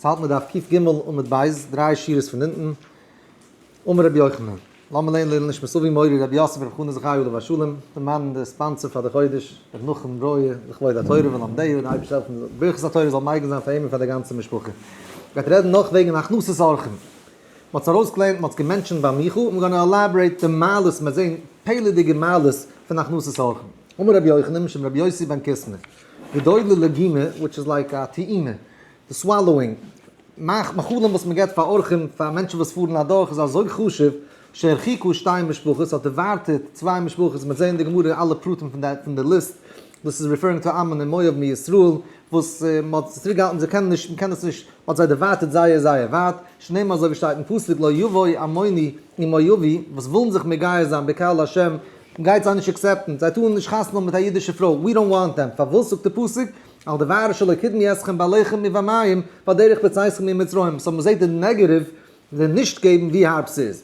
ס'האלט מיט דף קג עמוד ב', דריי שורות פון אונטן, אמר רבי יוחנן, לאמיר לערנען לעילוי נשמת אבי מורי רבי יוסף רבי חנא זכרי' עליו השלום, דערמאנען די ספאנסער פאר די חודש, רבי נחום ברויער, לכבוד התורה ולומדיה, די אייבערשטער זאל העלפן די ברכת התורה זאל מגין זיין פאר אים און פאר די גאנצע משפחה. מ'גייט רעדן נאך וועגן הכנסת אורחים. מ'האט עס ארויסגעלערנט, מ'האט עס געמענטשענט ביי מיכאל, און מיר גייען עלאבערעיט די מעלות, מ'וועט זען פעלערדיגע מעלות פון הכנסת אורחים. אמר רבי יוחנן משום רבי יוסי בן קיסמא. גדול ללגימה, וויטש איז לייק א טעימה, די סוואלאווינג, מאכט מאכלים וואס מען געבט פאר אורחים, פאר מענטשן וואס פארן אדורך איז אזוי חשוב, שהרחיקו שתי משפחות, האט ערווארטעט צוויי משפחות, מיר זעהן אין די גמרא אלע פרטים פון די פון די ליסט, דאס איז ריפערינג טו עמון און מואב מישראל, וואס מען האט זיי צוריק געהאלטן זיי קענען נישט מען קען עס נישט, מען האט זיי ערווארטעט זייער זייער ווייט, שנאמר אזוי ווי שטייט אין פסוק לא יבואו עמוני עם מואבי, וואס ווילן זיך מגייר זיין בקהל השם, גייט זיי נישט עקסעפטן, זיי טארן נישט חתונה האבן מיט א אידישע פרוי, ווי דאנט וואנט דעם, פארוואס זאגט די פסוק, אל דבר אשר לא קדמי אתכם בעליכם ובמים, בדרך בצאתכם ממצרים, סאו מ'זעט די נעגעטיוו, די נישט געבן ווי הארב ס'איז.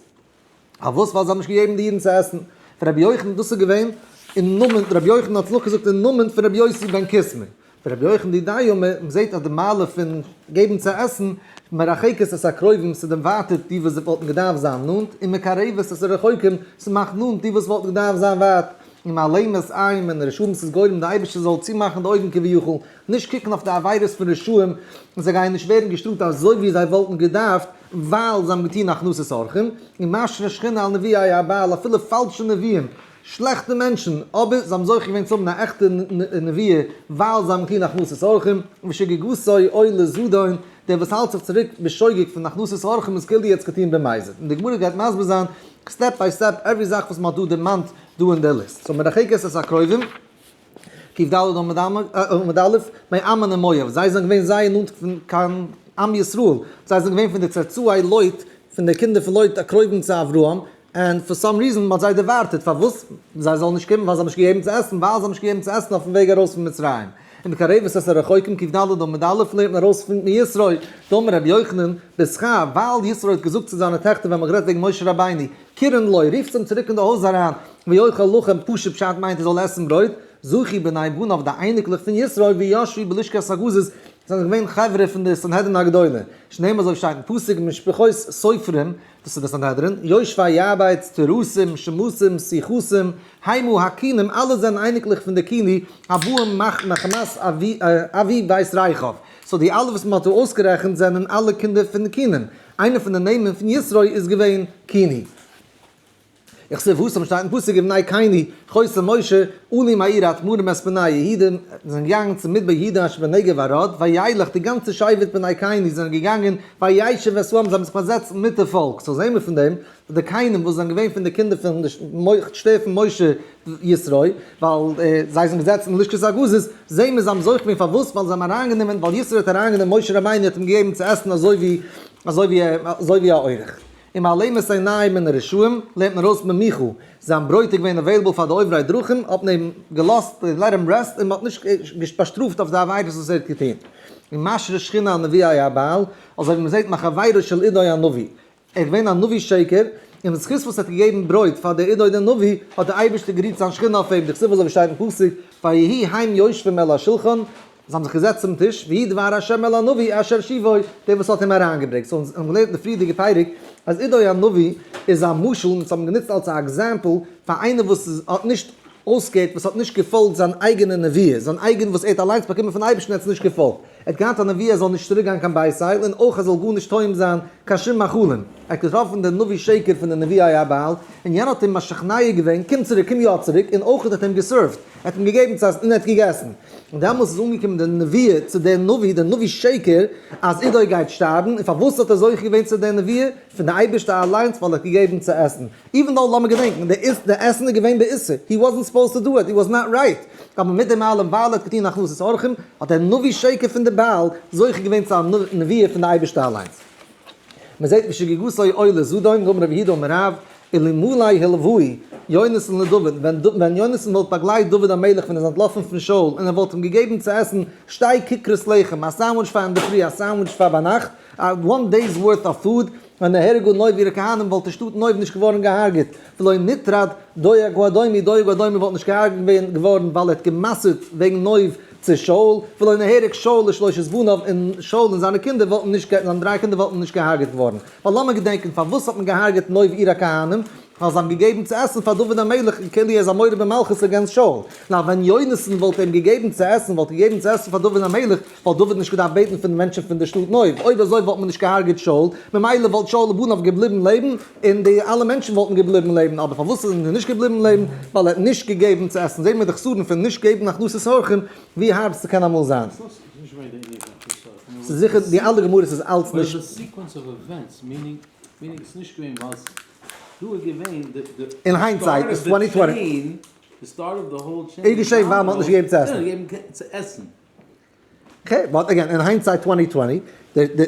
פארוואס? ווייל זיי האבן נישט געגעבן די אידן צו עסן. פון רבי יוחנן, דאס איז געווען אין נאמען, רבי יוחנן האט צו נאכגעזאגט אין נאמען פון רבי יוסי בן קיסמא. רבי יוחנן די דיו מ זעהט אז די מעלה פון געבן צו עסן מרחקת את הקרובים ס'דערווייטערט די וואס וואלטן געדארפט זיין נאנט און מקרבת את הרחוקים ס'מאכט נאנט די וואס וואלטן געדארפט זיין ווייט און מעלימת עין מן הרשעים ס'איז גורם די אייבערשטער זאל צומאכן די אויגן כביכול נישט קוקן אויף די עבירות פון רשעים און זיי גייען נישט ווערן געשטראפט אזוי ווי זיי וואלטן געדארפט ווייל זיי האבן געטון הכנסת אורחים און משרה שכינה על נביאי הבעל אפילו פאלשע נביאים שלעכטע מענטשן, אבער זיי האבן זוכה געווען צו האבן א עכטע נביאה, ווייל זיי האבן געטון הכנסת אורחים, ושגגתו עולה זדון, דער וואס האלט זיך צוריק בשוגג פון הכנסת אורחים איז כאילו ער האט עס געטון במזיד, און די גמרא גייט מסביר זיין סטעפ ביי סטעפ עווערי זאך וואס מען האט דא דערמאנט דא אין דער ליסט, סאו מרחק את הקרובים. קיף ד עמוד א', מיין עמון און מואב, זיי זענען געווען זייער נאנט קיין עם ישראל, זיי זענען געווען פון די צאצאי לוט, פון די קינדער פון לוט א קרובים צו אברהם, און פאר סאם ריזען מען האט זיי דערווארטעט פארוואס זיי זאלן נישט קומען ווייל זיי האבן נישט געגעבן צו עסן, ווייל זיי האבן נישט געגעבן צו עסן אויפן וועג ארויס פון מצרים, ומקרבת את הרחוקים קיף ד עמוד א' לערנט מען ארויס פון מישראל, דאמר רבי יוחנן, בזכר, ווייל ישרוי האט געזאגט צו זיינע טעכטער ווען מען האט גערעדט וועגן משה רבינו, קרן לוי, רופטס אים צוריק אין די הויז אריין, ויאכל לחם פשוט פשט מיינט ער זאל עסן ברויט, זכי בני בניו די אייניקלעך פון ישראל וישבו בלשכת הגזית זענען געווען חברה פון די סנהדרין הגדולה, שנאמר אזוי שטייט אין פסוק משפחות סופרים, דאס איז די סנהדרין, יושבי ארבייטס, תירוסים, שמוסים, סיחוסים, היימו הקינים אלעס זענען אייניקלעך פון די קיני הבאים מחמת אבי ווייס רייכאוו, סאו די אלע וואס מען האט דא אויסגערעכנט זענען אלע קינדער פון קינים. איינע פון די נעמען פון יתרו איז געווען קיני. איך זע וואס אמשטייט אין פסוק ובני קיני חוסם משה עולים העיר האדמורים מספינא יהודים זענען געגאנגען צום מדבר יהודה אשר בנגב אראד וילך די גאנצע שבט בני קיני זענען געגאנגען וישב את העם זיי האבן זיך באזעצט מיט די פאלק סאו זעהן מיר פון דעם די קיינים וואס זענען געווען פון די קינדער פון די שטער פון משה ישרוי, ווייל זיי זענען געזעצן אין לשכת הגזית, זעהן מיר זיי האבן זוכה געווען, פארוואס? ווייל זיי האבן אריינגענומען, ווייל ישרוי האט אריינגענומען משה רבינו האט אים געגעבן צו עסן אזוי ווי אזוי ווי אזוי ווי א אורח, און מעלימת עיניים מן הרשעים לערנט מען ארויס ממיכו, זיין ברויט איז געווען אוועילעבל פאר די עוברי דרכים, האט מען אים געלאזט און לעט הים רעסט און מען האט נישט באשטראפט אויף די עבירות וואס ער האט געטון, ומשרה שכינה על נביאי הבעל, אזוי ווי מען זעהט מחברו של עדוי הנביא, ער איז געווען א נביא שקר, און בזכות וואס ער האט געגעבן ברויט פאר דער עדה און דער נביא, האט דער אייבערשטער גערוהט זיין שכינה אויף אים, דכתיב אזוי ווי שטייט אין פסוק, ויהי היים יושבים אל השלחן, זיי האבן זיך געזעצט צום טיש, ויהי דבר השם אל הנביא אשר שיבו, דער וואס האט אים אריינגעברעגט, סאו אונז האבן געלערנט אין די פריערדיגע פרק, אז עדוי הנביא איז א משל, אונז האבן גענוצט אלס א עקזעמפל, פאר איינער וואס איז האט נישט אויסגעהערט, וואס האט נישט געפאלגט זיין אייגענע נביאות, זיין אייגענע וואס ער האט אליינס באקומען פון אייבערשטן ער האט עס נישט געפאלגט. ער האט געהאט א נביא ער זאל נישט צוריק גיין קיין בית אייל און אויך ער זאל גארנישט טועם זיין קיין שום מאכלים, ער האט געטראפן דעם נביא שקר פון די נביא אייל און יענער האט אים משכנע געווען קום צוריק קום יא צוריק און אויך האט אים געסערווט ער האט אים געגעבן צו עסן און ער האט געגעסן און דעמאלס איז אנגעקומען די נביא צו דעם נביא דער נביא שקר אז עדוי גייט שטארבן און פארוואס האט ער זוכה געווען צו די נביא פון די אייבערשטער אליינס ווייל ער האט געגעבן צו עסן איווען דאו לאמיר געדענקן די איז די עסן איז געווען באיסור הי וואזענט סופאוזד טו דו איט הי וואזט נאט רייט אבער מיט דעם אלעם ווייל ער האט געטון הכנסת אורחים האט דער נביא שקר פון די בעל זוכה געווען צו א נביאה פון די אייבערשטע אליינס מען זעט ווי שגגותיו עולות זדון גמר רבי יהודה אמר רב אלמלי הלווי יונתן לדוד ווען יונתן וואלט באגלייט דוד המלך ווען ער איז אנטלאפן פון שאול און ער וואלט אים געגעבן צו עסן שטיי ככרות לחם א סענדוויטש פאר אינדערפרי א סענדוויטש פאר ביינאכט א וואן דעיס ווארט אוו פוד און נהרגו נוב אירע כהנים וואלט די שטאט נוב נישט געווארן געהארגעט, ולא נטרד דואג האדומי דואג האדומי וואלט נישט געהארגעט ווען געווארן ווייל ער האט גע'מסר'ט וועגן נוב צו שאול, ולא נהרג שאול לשלושת בניו און שאול און זיינע קינדער וואלטן נישט גע זיינע דריי קינדער וואלטן נישט געהארגעט געווארן, ווייל לאמיר געדענקען פארוואס האט מען געהארגעט נוב אירע כהנים, ווייל זיי האבן געגעבן צו עסן פאר דוד המלך און כאילו ער איז א מורד במלכות אגענסט שאול, נאר ווען יונתן וואלט אים געגעבן צו עסן וואלט געגעבן צו עסן פאר דוד המלך, וואלט דוד נישט געדארפט בעטן פון די מענטשן פון די שטאט נוב, אויב אזוי וואלט מען נישט געהארגעט שאול, ממילא וואלט שאול און בניו געבליבן לעבן, און די אלע מענטשן וואלטן געבליבן לעבן, אבער פארוואס זענען זיי נישט געבליבן לעבן? ווייל ער האט נישט געגעבן צו עסן, זעען מיר די חסרון פון נישט געבן הכנסת אורחים, ווי הארב ס'קען אמאל זיין. ס'איז זיכער די אלע גמרות איז אלץ נישט. אין היינדסייט איז טווענטי טווענטי. איז געשען ווייל מ'האט נישט געגעבן צו עסן. אקעי, באט אגעין, אין היינדסייט טווענטי טווענטי,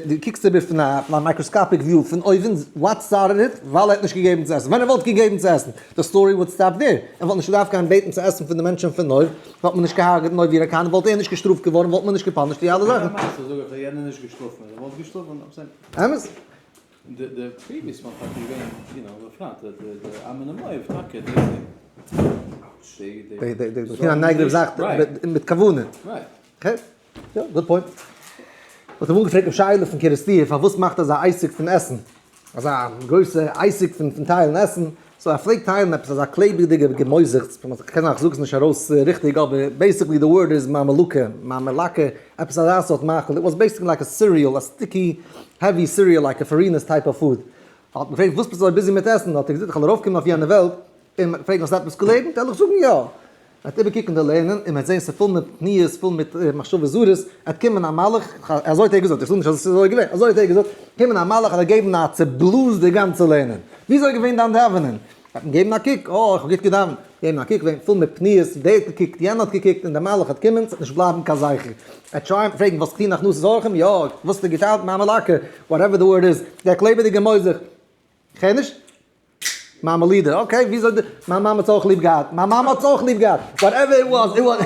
די קוקסט איבער פון א מייקראסקאפיק וויו פון אויבן, וואט סטארטעד איט, ווייל ער האט נישט געגעבן צו עסן, ווען ער וואלט געגעבן צו עסן, די סטארי וואלט סטאפ דער, ער וואלט נישט געדארפט גיין בעטן צו עסן פון די מענטשן פון נוב, וואלט מען נישט געהארגעט נוב ירא כאן, וואלט ער נישט געשטראפט געווארן, וואלט מען נישט געפאנישט די אלע זאכן. אמת? די די פריוויעס וואן טאקע געווען יו נאו בפרט די די די א מינע מויב טאקע די די די די די נייגעריג זאך מיט כוונה רייט יא גוד פוינט וואלט אים אנגעפרעגט די שאלה פון קערעסטיר פארוואס מאכט אזא עסק פון עסן אזא גרויסע עסק פון טיילן עסן סאו ער פלעגט טיילן עפעס אזא קלעבעדיגע געמויזעכטס פון וואס כ'קען כ'זאג עס נישט ארויס ריכטיג אבער בעיסיקלי די ווארד איז מאמעלקע, מאמעלאקע, עפעס אזא סארט מאכל, איט וואס בעיסיקלי לייק א סיריעל, א סטיקי העווי סיריעל לייק א פארינערס טייפ אוו פוד. האט מיר געפרעגט וואס ביסט אזוי ביזי מיט עסן, האט ער געזאגט איך וועל ארויפקומען אויף יענע וועלט און מיר פרעגן האסט עפעס געלערנט, עלעך זאגן יא. ער האט איבערקוקן די לערנען און מען האט זעהן ס'איז פול מיט תמיהות פול מיט מחשבות זרות, ער האט קומען א מלאך, אזוי האט ער געזאגט, איך זאג נישט אז עס איז אזוי געווען, אזוי האט ער געזאגט, קומען א מלאך אזוי געבן א צעבלאז די גאנצע לערנען, ווי אזוי איז געווען דיין דאווענען? ער האט געבן א קוק, אה איך האב גוט געדאווענט, געבן א קוק געווען פול מיט תמיהות, דער האט געקוקט יענער האט געקוקט און די מלאך האט קומען, ס'האט נישט בלייבן קיין זכר, ער האט טרייען פרעגן וואס טוען הכנסת אורחים, יא, וואס האט ער געטאנט, מאמע לאקע, וואטעווער די ווארד איז, דער קלעבעדיגער מוח זיך. כ'הער נישט. מאמע לידער, אקעי, וויאזוי די, מיין מאמע האט'ס אויך ליב געהאט, מיין מאמע האט'ס אויך ליב געהאט, וואטעווער איט וואס, איט וואס.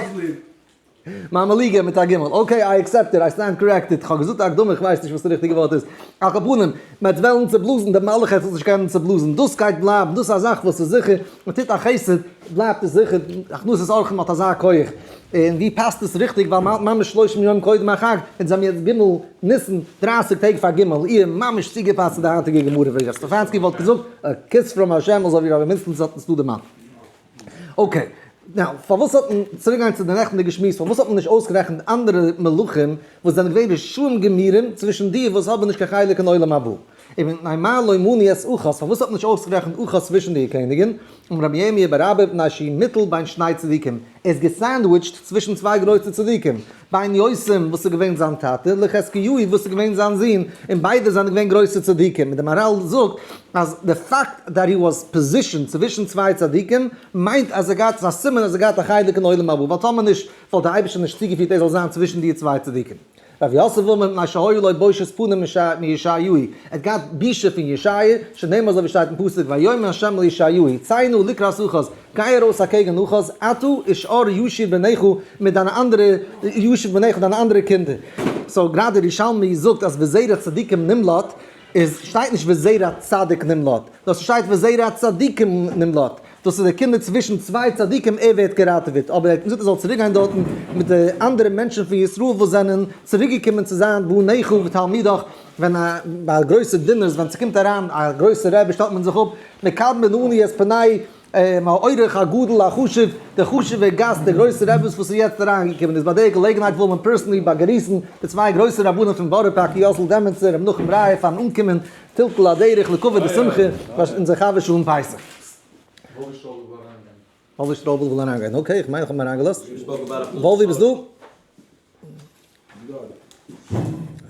מאמע ליגער מיט א גימל, אקעי איי עקסעפט איט, איי סטענד קארעקטעד, כ'האב געזאגט א הקדמה, כ'ווייס נישט וואס די ריכטיגע ווארט איז, על כל פנים, מ'העט וועלן צעבלאזן די מלאך העט עס נישט קענען צעבלאזן, דאס גייט בלייבן, דאס איז א זאך וואס איז זיכער, מ'טוט א חסד, בלייבט עס זיכער, הכנסת אורחים האט אזא כח. און ווי פאסט עס ריכטיג ווייל מ'האלט ממש שלושים יום קודם החג, אונז זעמיר יעצט ג' ניסן, דרייסיג טעג פאר ג' אייר, ממש צוגעפאסט צו די היינטיגע גמרא ווי ר' סטעפאנסקי וואלט געזאגט, א כוס פראם השם אזוי ווי רבי מינדסטענס האט אונז דא דערמאנט. אקעי. נאו, פארוואס האט מען, צוריק גיין צו די נעכטיגע שמועס, פארוואס האט מען נישט אויסגערעכנט אנדערע מלכים וואס זענען געווען רשעים גמורים צווישן די וואס האבן נישט קיין חלק אין עולם הבא? אבן נעימה לא מני את אחת, פארוואס האט מען נישט אויסגערעכנט אחת צווישן די קעניגן? און רבי ירמי' בר אבא מפני שהיא מיטל בין שני צדיקים, ער איז געסענדוויטשט צווישן צוויי גרויסע צדיקים, בין יוסם וואס איז געווען זיין טאטע, לחזקיהו וואס איז געווען זיין זון, און ביידע זענען געווען גרויסע צדיקים, און די מאראל זאגט אז די פאקט דעט הי וואס פאזישענד צווישן צוויי צדיקים מיינט אז ער געהאט, ס'איז א סימן אז ער געהאט א חלק אין עולם הבא, ווייל טאמער נישט וואלט דער אייבערשטער נישט צוגעפירט ער זאל זיין צווישן די צוויי צדיקים. רבי יוסף וואלמער מפני שהיו לו בושת פנים מישעיהו, ער האט געהאט בושה פון ישעיה, שנאמר אזוי ווי שטייט אין פסוק ויאמר ה' אל ישעיהו ציי נא לקראת אחז, גיי ארויס אקעגן אחז, אתה ושאר ישיר בניך מיט דיינע אנדערע ישיר בניך דיינע אנדערע קינדער. סאו גראדע ירושלמי זאגט אז וזרע צדיקים נמלט, עס שטייט נישט וזרע צדיק נמלט, נאר ס'שטייט וזרע צדיקים נמלט, דאס איז געקומען צווישן צוויי צדיקים ער ווערט געראטעוועט, אבער ער האט אים געזאגט ער זאל צוריק גיין דארטן מיט די אנדערע מענטשן פון ישראל וואס זענען צוריק געקומען צו זיין בניך ובתלמידיך, ווען א ביי גרויסע דינערס ווען ס'קומט אריין א גרויסע רבי שטעלט מען זיך אפ, מקבל מן העני את פני האורח הגדול החשוב, די חשובע גאסט די גרויסע רבי וואס איז יעצט אריין געקומען, איז ביי די געלעגנהייט וויל מען פערסענלי באגריסן די צוויי גרויסע רבנים פון בארא פארק יוסל דעמענצער און מנחם רייער פארן אנקומען, פילטל א דרך לקובע די שמחה וואס אונזער חבר של אום פסח. וואלווי שטראבל וויל אריינגיין. וואלווי שטראבל וויל אריינגיין, אקעי איך מיין איך האב אים אריינגעלאזט. וואלווי ביסט דא? איי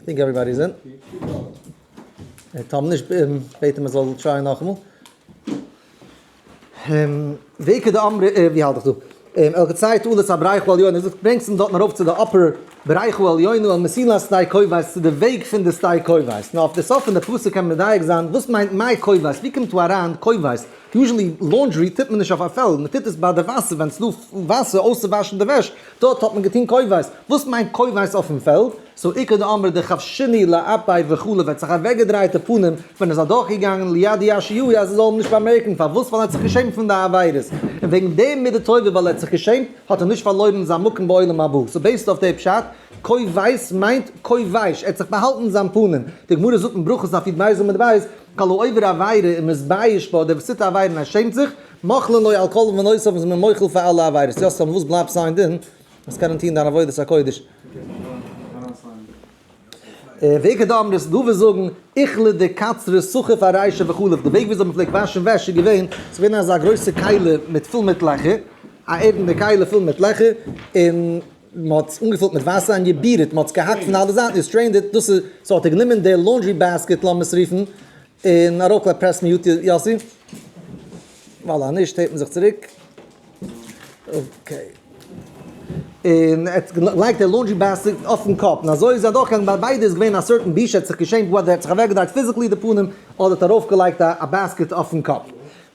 טינק עוועריבאדי איז אין. טאמער נישט בעט אים ער זאל טרייען נאכאמאל. ועיקר דאמרי ע, ווי האלט איך דא? אלקציה תעלת הבריחו עליונה, דאס ברענגסט אונז דארטן ארויף צו די אפער בריחו עליונה אל מסילת שדה כובש, צו די וועג פון די שדה כובש. נו, אויף די סוף פון די פסוק קען מען מדייק זיין, וואס מיינט מאי כובש? ווי קומט דא אריין כובש? יוזשעלי לאנדרי טוט מען נישט אויף א פעלד, מען טוט עס ביי די וואסער, ווען עס איז דא וואסער אויסצואוואשן די וועש, דארט האט מען געטון כובש. וואס מיינט כובש אויפן פעלד? סאו איכא דאמרי דכף שני לאפי' וכו' וועט זיך אוועקגעדרייט די פנים ווען עס אדורכגעגאנגען ליד יאש י אז ער זאל אים נישט באמערקן פארוואס ווייל ער האט זיך געשעמט פון די עבירות און וועגן דעם מידה טובה ווייל ער האט זיך געשעמט האט ער נישט פארלוירן זיין מקום בעולם הבא סאו בעיסד אויף די פשט קוי ווייס מיינט קוי ווייש ער האט זיך באהאלטן זיין פנים די גמרא זאגט אין ברכות אויף יו ט בייז עמוד ב' כל העובר עבירה און מתבייש בה דער וואס טוט א עבירה און ער שעמט זיך מוחלין לו על כל עוון ונושא וואס איז מען מוחל פאר אלע עבירות יא סאו פארוואס בלייבט סענדען וואס קענען טון דיין עבודת הקודש. ווער קען דא האבן די תגובה זאגן איכלע די קצרה סוכה פאר ריישע וכו' די וועג וויאזוי מ'פלעגט וואשן וועש איז געווען ס'איז געווען אזא גרויסע קיילע מיט פול מיט לעכער א ערנדע קיילע פול מיט לעכער און מ'האט עס אנגעפולט מיט וואסער און געבירעט מ'האט עס געהאקט פון אלע זייטן געסטרעינדעט דאס איז ס'האט ער גענומען די לאנדרי בעסקעט לאמיר עס רופן און אראפלייג פרעסט מיר יו ט יאסי, ווייל אז נישט הערט מען זיך צוריק. אקעי. און ער האט געלייגט די לאנדרי בעסקעט אויפן קאפ, און אזוי איז ער אדורכגעגאנגען, ביי ביידע איז געווען א סערטען בושה, ער האט זיך געשעמט וואדעווער, ער האט זיך אוועקגעדרייט פיזיקלי די פנים, אדער האט ארויפגעלייגט א בעסקעט אויפן קאפ.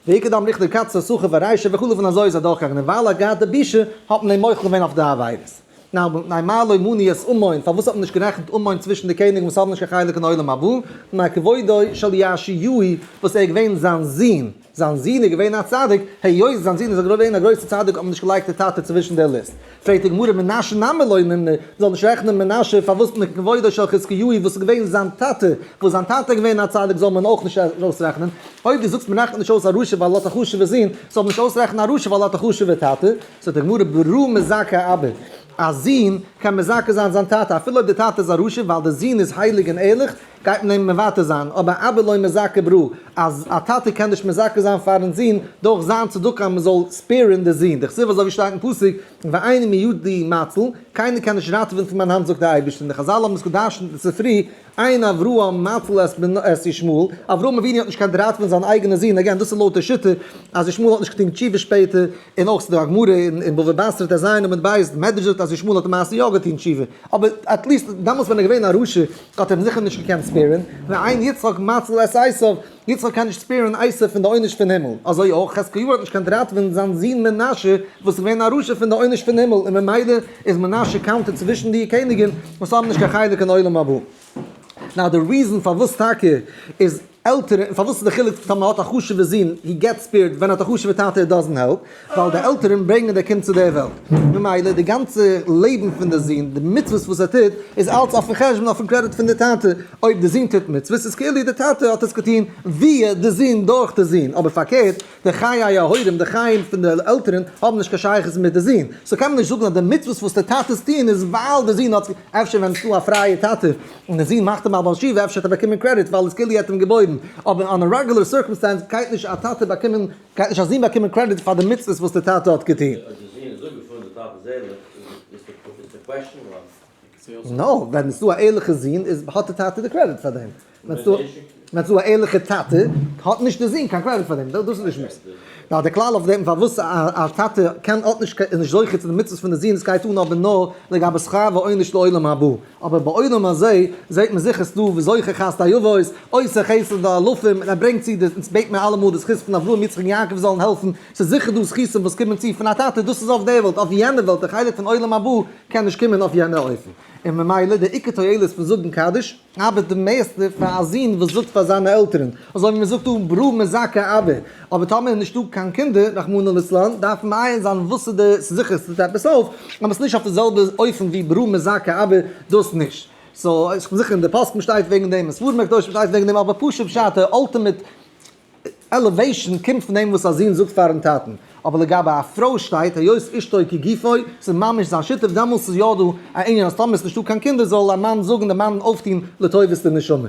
ויקד דם ריכטער קצר סוחב ורישא וכו' און אזוי איז ער אדורכגעגאנגען, און ווייל ער האט געהאט די בושה האט מען אים מוחל געווען אויף די עבירות. נאי מה לא מני את עמון, פארוואס האט מען נישט גערעכנט עמון צווישן די קעניגן וואס האבן נישט קיין חלק אין עולם הבא, נאר כבודו של יאשיהו וואס ער איז געווען זיין זון, זיין זון איז געווען א צדיק, היות זיין זון איז געווען א גרויסע צדיק האט מען נישט געלייגט די טאטע צווישן די ליסט, פרעגט די גמרא מנשה נמי לא נמנה, מען זאל נישט רעכענען מנשה פארוואס נאר כבודו של חזקיהו וואס איז געווען זיין טאטע, וואס זיין טאטע איז געווען א צדיק זאל מען אויך נישט ארויס רעכענען, אויב די זאגסט מען רעכנט נישט אויס א רשע ווייל ער האט א חשובע זון, זאל מען נישט אויס רעכענען א רשע ווייל ער האט א חשובע טאטע. זאגט די גמרא ברור מזכה אביו, א זון קען מזכה זיין זיין טאטע אפילו אויב די טאטע איז א רשע ווייל די זון איז הייליג און ערליך גייט מען אים מוותר זיין, אבער אביו לא מזכה ברו, א טאטע קען נישט מזכה זיין פארן זון דורך זיין צדקה אז מען זאל ספעירן די זון, דכתיב אזוי ווי שטייט אין פסוק ואיני מידי מצל, קיינער קען נישט ראטעווען פון מיין האנט זאגט די אייבערשטער, און די חזל האבן עס געדרשנ'ט אין ספרי אין אברהם נטל את בנו את ישמעאל, אברהם אבינו האט נישט געקענט ראטווען זיין אייגענע זון, אגעין דאס איז לויט די שיטה אז ישמעאל האט נישט געטון תשובה שפעטער, און אויך ס'דא א גמרא אין בבא בתרא ט ז עמוד ב', די מדרש זאגט אז ישמעאל האט למעשה יא געטון תשובה, אבער עטליסט דעמאלטס ווען ער איז געווען א רשע האט ער זיכער נישט געקענט ספעירען, ואין יצחק מציל את עשיו. יצחק קען נישט ספּערן עשו פון די עונש פון הימל, אזוי אויך חזקיהו האט נישט קענט ראטווען זיין זון מנשה וואס איז געווען א רשע פון די עונש פון הימל, און ממילא איז מנשה קאונטעד צווישן די קעניגן וואס האבן נישט קיין חלק אין עולם הבא. נאו די ריזען פארוואס טאקע איז עלטערע און פארוואס איז די חילוק טאמער האט א חשובע זון הי געט ספעירד ווען האט א חשובע טאטע הי דאזענט העלפ. ווייל די עלטערן ברענגען די קינד צו דער וועלט, ממילא די גאנצע לעבן פון די זון, די מצוות וואס ער טוט, איז אלץ אויפן חשבון, אויפן קרעדיט פון די טאטע, אויב די זון טוט מצוות, איז כאילו די טאטע האט עס געטון וויע די זון דורך די זון, אבער פארקערט, די חיי ההורים, די חיים פון די עלטערן, האבן נישט קיין שייכות מיט די זון, סאו קען מען נישט זאגן אז די מצוות וואס די טאטעס טוען איז ווייל די זון האט, אפשר ווען ס'איז דא א פרייע טאטע און די זון מאכט אים א בעל שבעה אפשר האט ער באקומען קרעדיט ווייל איז כאילו ער האט אים געבוירן, אבער אן א רעגולער סירקאמסטענס גייט נישט א טאטע באקומען גייט נישט א זון באקומען קרעדיט פאר די מצוות וואס די טאטע האט געטון? נא, ווען עס איז דא א ערליכע זון איז האט די טאטע די קרעדיט פאר דעם, ווען עס איז דא א ערליכע טאטע האט נישט די זון קיין קרעדיט פאר דעם, דאס איז די שמועס. נאר די כלל אויף דעם פארוואס א טאטע קען האט נישט איז נישט זוכה צו די מצוות פון די זון, עס גייט אן אבער נאר לגבי שכר ועונש לעולם הבא. אבער בעולם הזה זעהט מען זיכער ס'דא וזוכר חסדי אבות, עושה חסד לאלפים, און ער ברענגט צו די, אונז בעט מיר אלעמאל די זכות פון אברהם יצחק און יעקב זאלן העלפן, ס'איז זיכער דא זכותים וואס קומען צו פון א טאטע, דאס איז אויף דער וועלט, אויף יענער וועלט, דער חלק פון עולם הבא קען נישט קומען אויף יענער אופן, און ממילא דער עיקר תועלת פון זאגן קדיש, ארבעט די מערסטע פאר א זון וואס זאגט פאר זיינע עלטערן, אזוי ווי מ'זאגט דא ברא מזכה אבא, אבער טאמער איז נישטא קיין קינדער רחמנא ליצלן דארף מעיין זיין וואס איז די סזיכער עס טוט עפעס אויף אבער עס נישט אויף די זעלבע אופן ווי ברא מזכה אבער דאס נישט סאו איך בין זיכער אין די פוסקים שטייט וועגן דעם אין ספרים הקדושים שטייט וועגן דעם אבער פשוט פשט די אלטימעט עלעוועישן קומט פון דעם וואס א זון זאגט פארן טאטן אבער לגבי א פרוי שטייט היות אשתו כגופו ס'איז ממש זיין שותף דעמאלס איז יא דא א ענין אז טאמער עס נישטא קיין קינדער זאל א מאן זאגן די מאן אויפטון לטובת די נשמה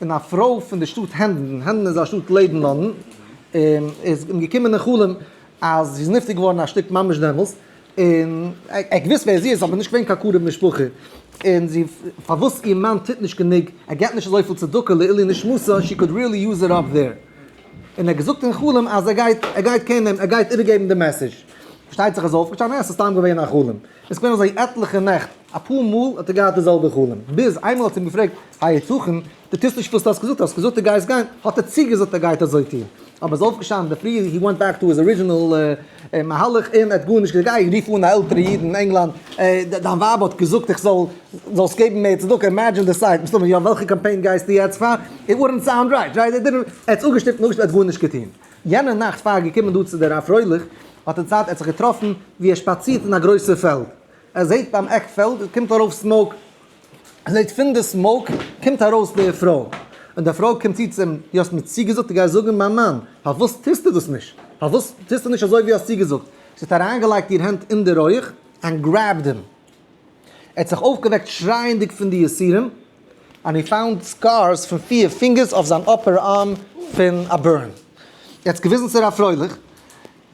און א פרוי פון די שטאט הענדן, הענדן איז א שטאט לעבן לאנדן, איז אים געקומען אין חלום אז זי איז נפטר געווארן א שטיק ממש דעמאלס, און ער האט געוואוסט ווער זי איז אבער נישט געווען קיין קרוב משפחה, און זי פארוואס איר מאן טוט נישט גענוג, ער געבט נישט אזויפיל צדקה לעילי נשמתה, שי קאוד ריעלי יוז איט אפ דער, און ער האט געזאגט אין חלום אז ער גייט, ער גייט קענען, ער גייט איבערגעבן די מעסעזש, פארשטייט זיך ער איז אויפגעשטאנען, עס איז סתם געווען א חלום. עס איז געווען אזוי עטליכע נעכט, אפאר מאל האט ער געהאט די זעלבע חלום, ביז איינמאל האט ער אים געפרעגט, היתכן, דו טוסט נישט וואס דו האסט געזאגט, האסט געזאגט דו גייסט גיין, האט ער צוגעזאגט ער גייט אזוי טון, אבער עס איז אויפגעשטאנען אינדערפרי, הי ווענט בעק טו היז ארידזשינעל מהלך, און ער האט גארנישט געזאגט, גיי רוף אן א עלטערע איד אין ענגלאנד, דיין ווייב האט געזאגט איך זאל, זאלסט געבן מער צדקה, אימעדזשין די סייט, מסתמא יא, וועלכע קאמפיין גייסטו יעצט פאר, איט וואלדנט סאונד רייט, ער האט אפגעשטופט און אפגעשטופט, ער האט גארנישט געטון. יענע נאכט פאר געקומען דא צו די רב פרויליך, האט ער צייט ער האט זיך געטראפן ווי ער שפאצירט אין א גרויסע פעלד, ער זעט ביים עק פעלד קומט ארויף סמאוק, ער זעט פון די סמאוק קומט ארויס די פרוי, און די פרוי קומט צו צו אים, דו האסט מיר צוגעזאגט דו גייסט זאגן מיין מאן, פארוואס טוסטו דאס נישט? פארוואס טוסטו נישט אזוי ווי האסט צוגעזאגט? זי האט אריינגעלייגט איר הענט אין די רויעך ענד גרעבד הים. ער האט זיך אויפגעוועקט שרייענדיג פון די יסורים, און הי פאונד סקארס פון פיער פינגערס אויף זיין אפער ארם פון א בורן. ער האט עס געוויזן צו ר' פרויליך,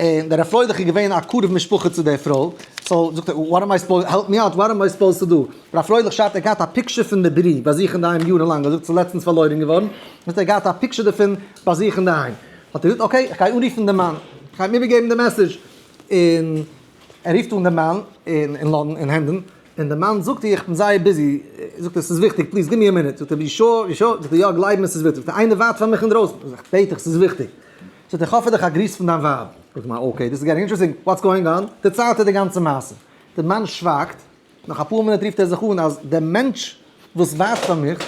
און דער ר' פרויליך איז געווען א קרוב משפחה צו דער פרוי, סאו זאגט ער וואט עם איי סופאוזד, העלפ מי אוט, וואט עם איי סופאוזד טו דו? ר' פרויליך שרייבט ער האט געהאט א פיקשער פון די ברי ביי זיך אינדערהיים יארן לאנג, ער זאגט ס'איז לעצטנס פארלוירן געווארן, זאגט ער האט געהאט א פיקשער דערפון ביי זיך אינדערהיים, האט ער געזאגט אקעי, איך גיי אנרופן דעם מאן, איך גיי אים איבערגעבן די מעסעדזש, און. ער רופט אן דעם מאן אין לאנדן אין הענדן, און דער מאן זאגט איך בין זייער ביזי, זאגט ער ס'איז וויכטיג פליז גיב מיר א מינוט, זאגט ער בי שור, בי שור, זאגט ער יא גלייב מיר ס'איז וויכטיג, זאגט ער איינער ווארט פאר מיך אינדרויסן, זאג איך בעט דיך ס'איז וויכטיג, זאגט ער כ'האף פאר דיך א גריס פון דיין ווייב, זאגט דער מאן אקעי דיס איז געטינג אינטערעסטינג וואטס גאוינג אן, דערציילט ער די גאנצע מעשה, דער מאן שווייגט, נאך אפאר מינוט רופט ער זיך אן אז דער מענטש וואס ווארט פאר מיך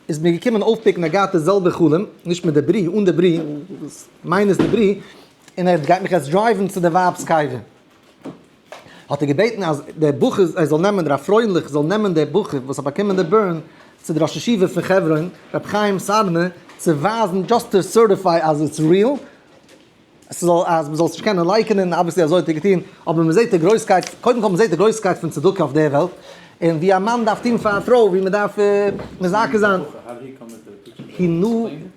איז מיר געקומען אויפפיקן ער געהאט די זעלבע חלום, נישט מיט די ברי, אן די ברי, מיינעס די ברי, און ער גייט מיך יעצט דרייווען צו די ווייב'ס קבר, האט ער געבעטן אז דער בחור ער זאל נעמען, הרב פרויליך זאל נעמען דער בחור וואס האט באקומען די בורן, צו דער ראש ישיבה פון חברון, רבי חיים סארנא, צו ווייזן, דזשאסט טו סערטיפיי אז איטס ריעל, עס זאל, אז מען זאל עס נישט קענען לייקענען, אבוויעסלי אזוי האט ער געטון, אבער מען זעט די גרויסקייט, קודם כל מען זעט די גרויסקייט פון צדקה אויף דער וועלט, און ווי א מאן דארף טון פאר א פרוי, ווי מען דארף מזכה זיין. הנה.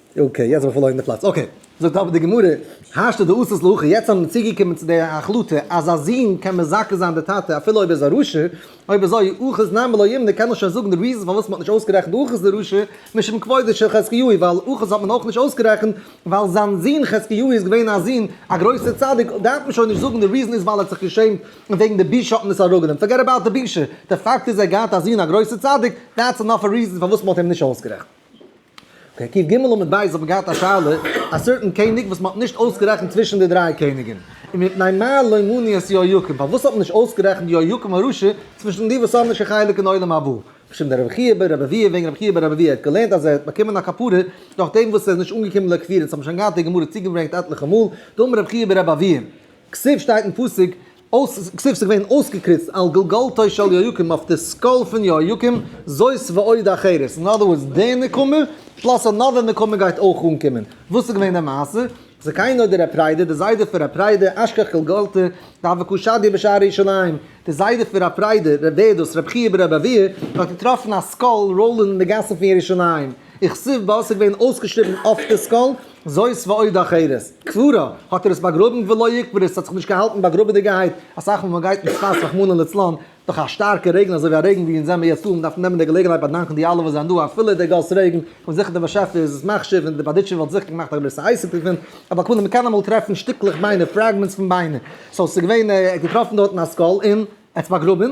אקעי יעצט האב איך פארלוירן די פלאץ, אקעי זאגט אבער די גמרא השתא דאתית להכי, יעצט זענען מיר צוגעקומען צו די החלטה אז א זון קען מזכה זיין די טאטע אפילו אויב ער איז א רשע, אויב אזוי אחוז נמי לא ימנע קען איך שוין זאגן די ריזען פארוואס מען האט נישט אויסגערעכנט אחוז די רשע משום כבודו של חזקיהו ווייל אחוז האט מען אויך נישט אויסגערעכנט ווייל זיין זון חזקיהו איז געווען א זון א גרויסע צדיק דארף מען שוין נישט זאגן די ריזען איז ווייל ער האט זיך געשעמט וועגן די בושה האט מען עס אראפגענומען פארגעט אבאוט די בושה די פאקט איז ער האט געהאט א זון א גרויסע צדיק דעטס ענאף א ריזען פארוואס מען האט אים נישט אויסגערעכנט. אקעי, קיף ג עמוד ב' איך האב געהאט א שאלה, א סערטען קעניג וואס מ'האט נישט אויסגערעכנט צווישן די דריי קעניגען, און מפני מה לא מני את יהויקים, פארוואס האט מען נישט אויסגערעכנט יהויקים הרשע צווישן די וואס האבן נישט קיין חלק אין עולם הבא, בשם דער רבי חייא ב ר רביעי וועגן רבי חייא ב ר רביעי ער האט געלערנט אז ער האט באקומען א כפרה נאכדעם וואס ער איז נישט אנגעקומען לקבורה דאס האבן שוין געהאט די גמרא צוגעברענגט עטליכע מאל, דאמר רבי חייא ב ר רביעי, כסוף שטייט אין פסוק. אויס כסוף ס'איז געווען אויסגעקריצט על גולגולתו של יהויקים אויף די סקול פון יהויקים, זאת ועוד אחרת, אין אדער ווארדס די נקמה פלאס אנאדער נקמה גייט אויך אנקומען, וואס איז געווען די מעשה? זקיינא דר' פריידא די זיידע פון ר' פריידא אשכח גולגולתו דבקו שדי בשער ירושלים, די זיידע פון ר' פריידא ר' ווערדאס רב חייא ברב אביה האט געטראפן א סקול ראללען אין די גאסן פון ירושלים, איך ס'איז וואסע געווען אויסגעשריבן אויף די סקול, זאת ועוד אחרת, קבורה האט ער עס באגראבן ולא יקבר עס האט זיך נישט געהאלטן באגראבעדיגעהייט, אסאך מאל ווען מ'גייט אין שפאס רחמנא לצלן דורך א שטארקע רעגן אזוי ווי א רעגן ווי אונז זעמער יעצט דא, מ'דארף נעמען די געלעגנהייט באדאנקן די אלע וואס זענען דא אפילו די גאס רעגן, כ'בין זיכער די באשעפער איז עס מחשיב און די בארדיטשובער וואלט זיכער געמאכט א גרויסע אייסיד דערפון, אבער כלומר מ'קען אמאל טרעפן שטיקלעך ביינער, פרעגמענטס פון ביינער, סאו ס'איז געווען ער האט געטראפן דארטן א סקול און ער האט עס באגראבן,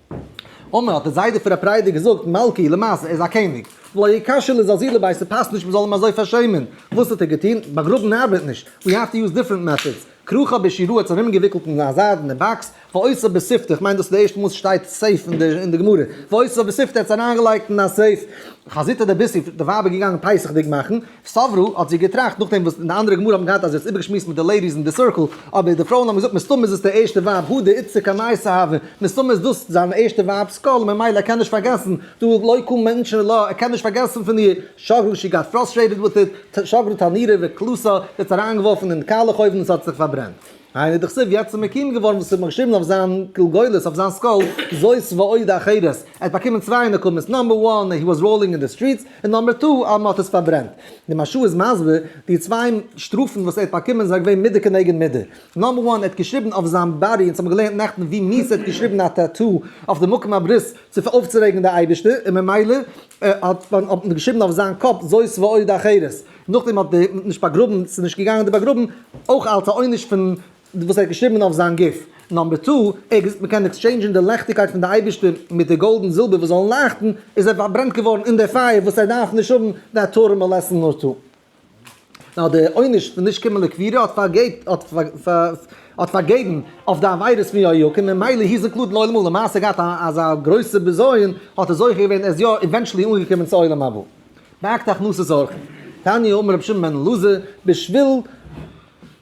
אמר, האט די זיידע פון ר' פריידי געזאגט, מלכי, למעשה, ער איז א קעניג, ולא יקשה לזלזיל לבית, ס'פאסט נישט מ'זאל אים אזוי פארשעמען. וואס האט ער געטון? באגראבן ארבעט נישט, ווי האו טו יוז דיפרענט מעטאדס. כרוכא בעשירא האט עס ארומגעוויקלט אין א זיידענע באקס, ועושה בשפתו, כ'מיין דאס איז די ערשטע מאל עס שטייט סעיף אין די גמרא, ועושה בשפתו, ער האט עס אריינגעלייגט אין א סעיף. חזית דער ביסי, די ווייב איז געגאנגען פסח'דיג מאכן, סברא האט זי געטראכט נאכדעם וואס אין די אנדערע גמרא האט מען געהאט אז זי האט עס איבערגעשמועסט מיט די לעידיס אין די סירקל, אבער די פרויען האבן געזאגט מסתמא איז עס די ערשטע ווייב הודא איצא קמאיס אהבה, מסתמא איז דאס זיין ערשטע ווייב סקאל און ממילא ער קען נישט פארגעסן, דא לא יקום מענטשן ולא ער קען נישט פארגעסן פון איר, שגרא שי גאט פראסטרעיטעד וויט איט, שגרא תנירא וקלסא, זי האט עס אריינגעווארפן אין די קאלעך אויוון און עס האט זיך פארברענט. עיין איז די כסוף יעצט מקים געווארן וואס האט מיר געשריבן אויף זיין גולגולת אויף זיין סקול זאת ועוד אחרת ער האט באקומען צוויי נקמות נאמבער וואן הי וואס ראולינג אין די סטריטס און נאמבער טו אז מען האט עס פארברענט די משהו איז מסביר די צוויי שטראפן וואס ער האט באקומען זענען געווען מידה כנגד מידה נאמבער וואן ער האט געשריבן אויף זיין באדי אונז האבן געלערנט נעכטן ווי mies האט געשריבן א טעטאו אויף די מקום הברית צו אויפצורעגן די אייבערשטער און ממילא האט מען געשריבן אויף זיין קאפ זאת ועוד אחרת נאכדעם האט די נישט באגראבן ס'איז נישט געגאנגען די באגראבן אויך אלס א עונש פון וואס ער האט געשריבן אויף זיין גוף נאמבער טו, ער האט געזאגט מ'קען עקסטשעינדזשן די לעכטיגקייט פון די אייבערשטער מיט די גאלד און זילבער וואס זאלן לייכטן, איז ער פארברענט געווארן אין די פייער וואס ער דארף נישט האבן די התורה מאלעסטן נאר טו. נאר די עונש פון נישט קומען לקבירה האט האט פארגעבן אויף די עבירות פון יהויקים ממילא היז אינקלודעד לעולם הבא, למעשה געהאט אזא גרויסע בזיון האט ער זוכה געווען ער איז יא עווענטשעלי אנגעקומען צו עולם הבא. באקט הכנסת אורחים. תני אמר רבי שמעון בן אלעזר, בשביל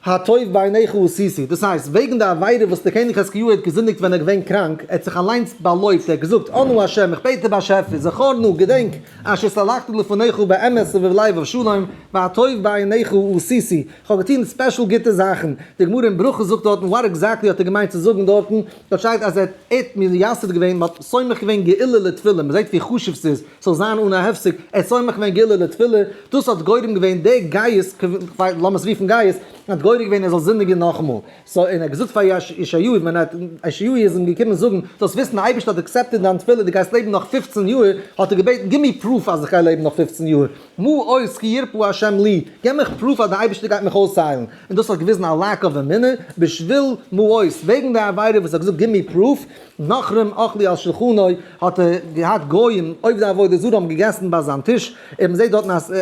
הטוב בעיניך עשיתי, דאס הייסט, וועגן די עבירה וואס דער קעניג חזקיהו האט געזינדיגט ווען ער איז געווען קראנק, ער האט זיך אליינס באלויבט, ער האט געזאגט, אנא ה', איך בעט דיר באשעפער, זכור נא, געדענק, אשר סלחתי לפניך באמת ובלב ובשלום, והטוב בעיניך עשיתי, איך האב געטון ספעשל גוטע זאכן, די גמרא אין ברכות זאגט דארטן וואט עקזעקטלי האט ער געמיינט צו זאגן דארטן, דארט שטייט אז ער האט מייסד געווען, מען האט סומך געווען גאולה לתפלה, מען זעט ווי חשוב ס'איז, ס'זאל זיין אן א הפסק, ער סומך ווען גילה לתפילה, דאס האט גורם געווען די גייסט, לאמערס רופן גייסט, האט גורם געווען ער זאל זינדיגען נאכאמאל, סא און ער האט געזאגט פאר ישעי' ווען ער האט, ישעי' איז אים געקומען זאגן, זאלסט וויסן די אייבערשטער האט עקסעפטעד דיין תפילה, דו גייסט לעבן נאך פֿופֿצן יאהר, האט ער געבעטן גיב מיר פרוף אז איך גיי לעבן נאך פֿופֿצן יאהר, מה עוז כי ירפא השם לי, געב מיך פרוף אז די אייבערשטער גייט מיך אויסהיילן, און דאס האט געוויזן א לאק אוו אמונה, בשביל מה עוז, וועגן די עבירה וואס ער האט געזאגט גיב מיר פרוף, נאכרם אכלי על שלחנוי, האט ער געהאט גוים עובדי עבודה זרה האבן געגעסן ביי זיין טיש, און מען זעט דארטן אז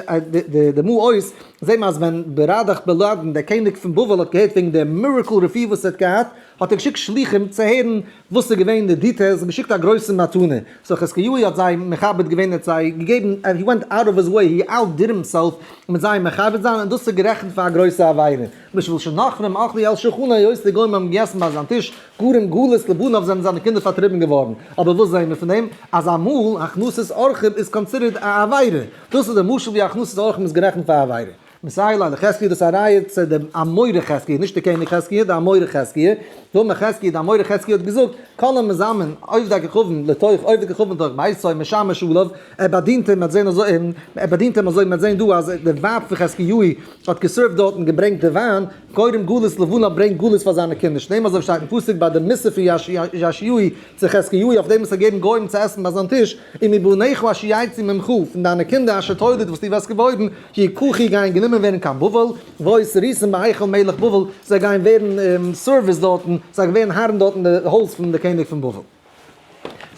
די מו עוה'ס זעהן אז ווען בראדאך בלאדין דער קעניג פון בבל האט געהערט וועגן דער מירעקל רפואה וואס ער האט געהאט, האט ער געשיקט שלוחים צו הערן וואס איז געווען די דיטעילס און געשיקט א גרויסע מתנה, סאו חזקיהו האט זיי מכבד געווען ער האט זיי געגעבן ענד הי ווענט אוט אוו היז וועי הי אאוט דיד הימסעלף מיט זיי מכבד זיין און דאס איז גערעכנט פאר א גרויסע עבירה, משום שנכרים אכלו על שולחנו היות די גוים האבן געגעסן ביי זיין טיש גרים גלות לבנון זענען זיינע קינדער פארטריבן געווארן, אבער וואס זעהן מיר פון דעם? אז אמאל הכנסת אורחים איז קאנסידערט א עבירה, דאס איז די משל ווי הכנסת אורחים איז גערעכנט פאר א עבירה. מסילה לחזקיה דאס א ראיה צו די אמורא חזקיה, נישט די קעניג חזקיה, די אמורא חזקיה, ואמר חזקיה, די אמורא חזקיה האט געזאגט, כל המזמן עובדי כוכבים לתוך עובדי כוכבים לתוך ביתו משמש עליו, ער באדינט אים, מ'האט זעהן אזוי, ער באדינט אים אזוי, מ'האט זעהן דא אז די ווייב פון חזקיהו האט געסערווט דארט און געברענגט די וויין, קודם גלות לבנה ברענגט גלות פאר זיינע קינדער, שניהם אזוי ווי שטייט אין פסוק ביי די מסור פון יאשיהו צו חזקיהו אויף דעם וואס ער האט געגעבן גוים צו עסן ביי זיין טיש, און מבניך אשר יצאו ממך, פון דיינע קינדער אשר תולד וואס דו וועסט געבוירן, יקחו גייען גענומען ווערן קיין בבל, והיו סריסים בהיכל מלך בבל, זיי גייען ווערן סערוויס דארטן, זיי ווערן הארן דארט אין די הויז פון די קעניג פון בבל.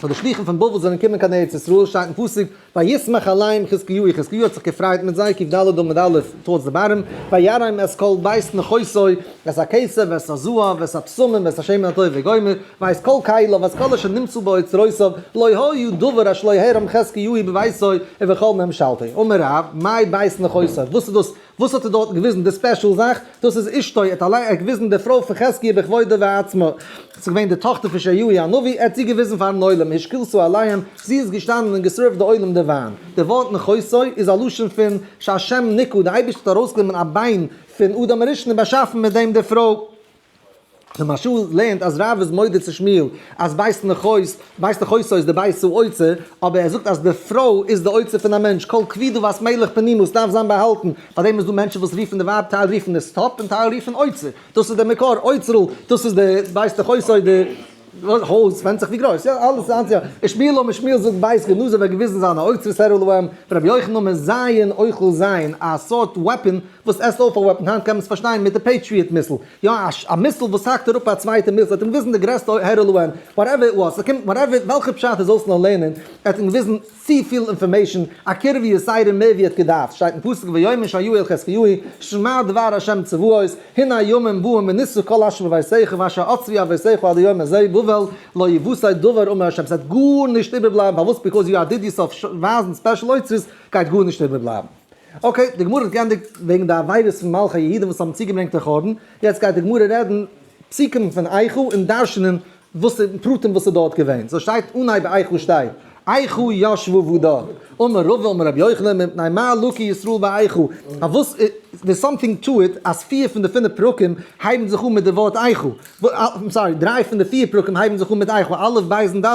פאר די שלוחים פון בבל זענען געקומען קיין ארץ ישראל שטייט אין פסוק וישמח עליהם חזקיהו חזקיהו האט זיך געפריידט מיט זיי קד ד עמוד א' תורת דברים ויראים את כל בית נכסו ואת הכסף ואת הזהב ואת הבשמים ואת השמן הטוב וגומר ואת כל כליו ואת כל אשר נמצא באוצרותיו לא היה דבר אשר לא הערם חזקיהו בביתו ובכל ממשלתו אמר רב מהי בית נכסו וואס איז דאס וואס האט ער דארטן געוויזן די ספעשל זאך? דאס איז אשתו, ער האט אליין, ער האט געוויזן די פרוי פון חזקיה בכבודה ועצמה, ס'איז געווען די טאכטער פון ישעיהו הנביא, ער האט זי געוויזן פארן עולם, השקילסו אליין, זי איז געשטאנען און געסערווט די עולם די וויין. די ווארט נכסו איז א לשון פון שהשם ניקו, די אייבערשטער האט ארויסגענומען א ביין פון אדם הראשון און באשאפן מיט דעם די פרוי. למשל לערנט אז רב איז מודה צו שמואל אז ווייזט ניך אויס ווייזט דיך אויס אויס די בית זו אוצה אבער ער זאגט אז די פרוי איז די אוצה פון א מענטש כל כבידו ואת מלך פנימות דארף זיין באהאלטן פארדעם איז דא מענטשן וואס רופן די ווייב טייל רופן עס טאפ און טייל רופן אוצה דאס איז די מקור אוצרל דאס איז די ווייזט דיך אויס אוי די הויז, ווענדט זיך ווי גרויס, יא, אלעס איז אנטי ה. איך שמיל און משמיל זאגט בית גנוזה וועט געוויזן זיין א אוצרות הערלו ווען רבי יוחנן מיט זיין אוכל זיין א סארט וועפען וואס עסט אויף א וועפען היינט קען מען עס פארשטיין מיט די פעיטריעט מיסל יא א מיסל וואס האקט אראפ א צווייטע מיסל ער האט אים געוויזן די גרעסטע הערלו ווען וואטעווער איט וואס ס'קומט וואטעווער וועלכע פשט איר זאלסט נאר לערנען ער האט אים געוויזן צופיל אינפארמעישן, א קעיר ווי יסיירים מער ווי ער האט געדארפט, שטייט אין פסוק ויאמר שייועיל חזקיהו שמע דבר השם צבאות הנה ימים באים וניסו כל אשר בביתיך ואשר עצבי אבותיך עד היום הזה בבל לא יבוסי דבר אמר השם ס'גייט גארנישט איבערבלייבן פארוואס ביקאוז יו דיד יוסף ווייזן ספעשל אוצרות גייט גארנישט איבערבלייבן. אקעי די גמרא האט גענדיגט וועגן די עבירות פון מלכי היהודים וואס האבן צוגעברענגט די חורבן, יעצט גייט די גמרא רעדן פסוקים פון איכה און דרשנים וואס איז פרטים וואס איז דארט געווען? סאו שטייט אנהייב ביי אייך וואס שטייט? אייכו ישבו וואו דארט? אמר רבא אמר רבי יוחנן מפני מה לוקי ישראל ביי אייכו? פארוואס דער סאמטינג טו איט אז פיר פון די פינף פרקים הייבן זיך אן מיט די ווארט אייכו? סארי דריי פון די פיר פרקים הייבן זיך אן מיט אייכו א' ב' און ד'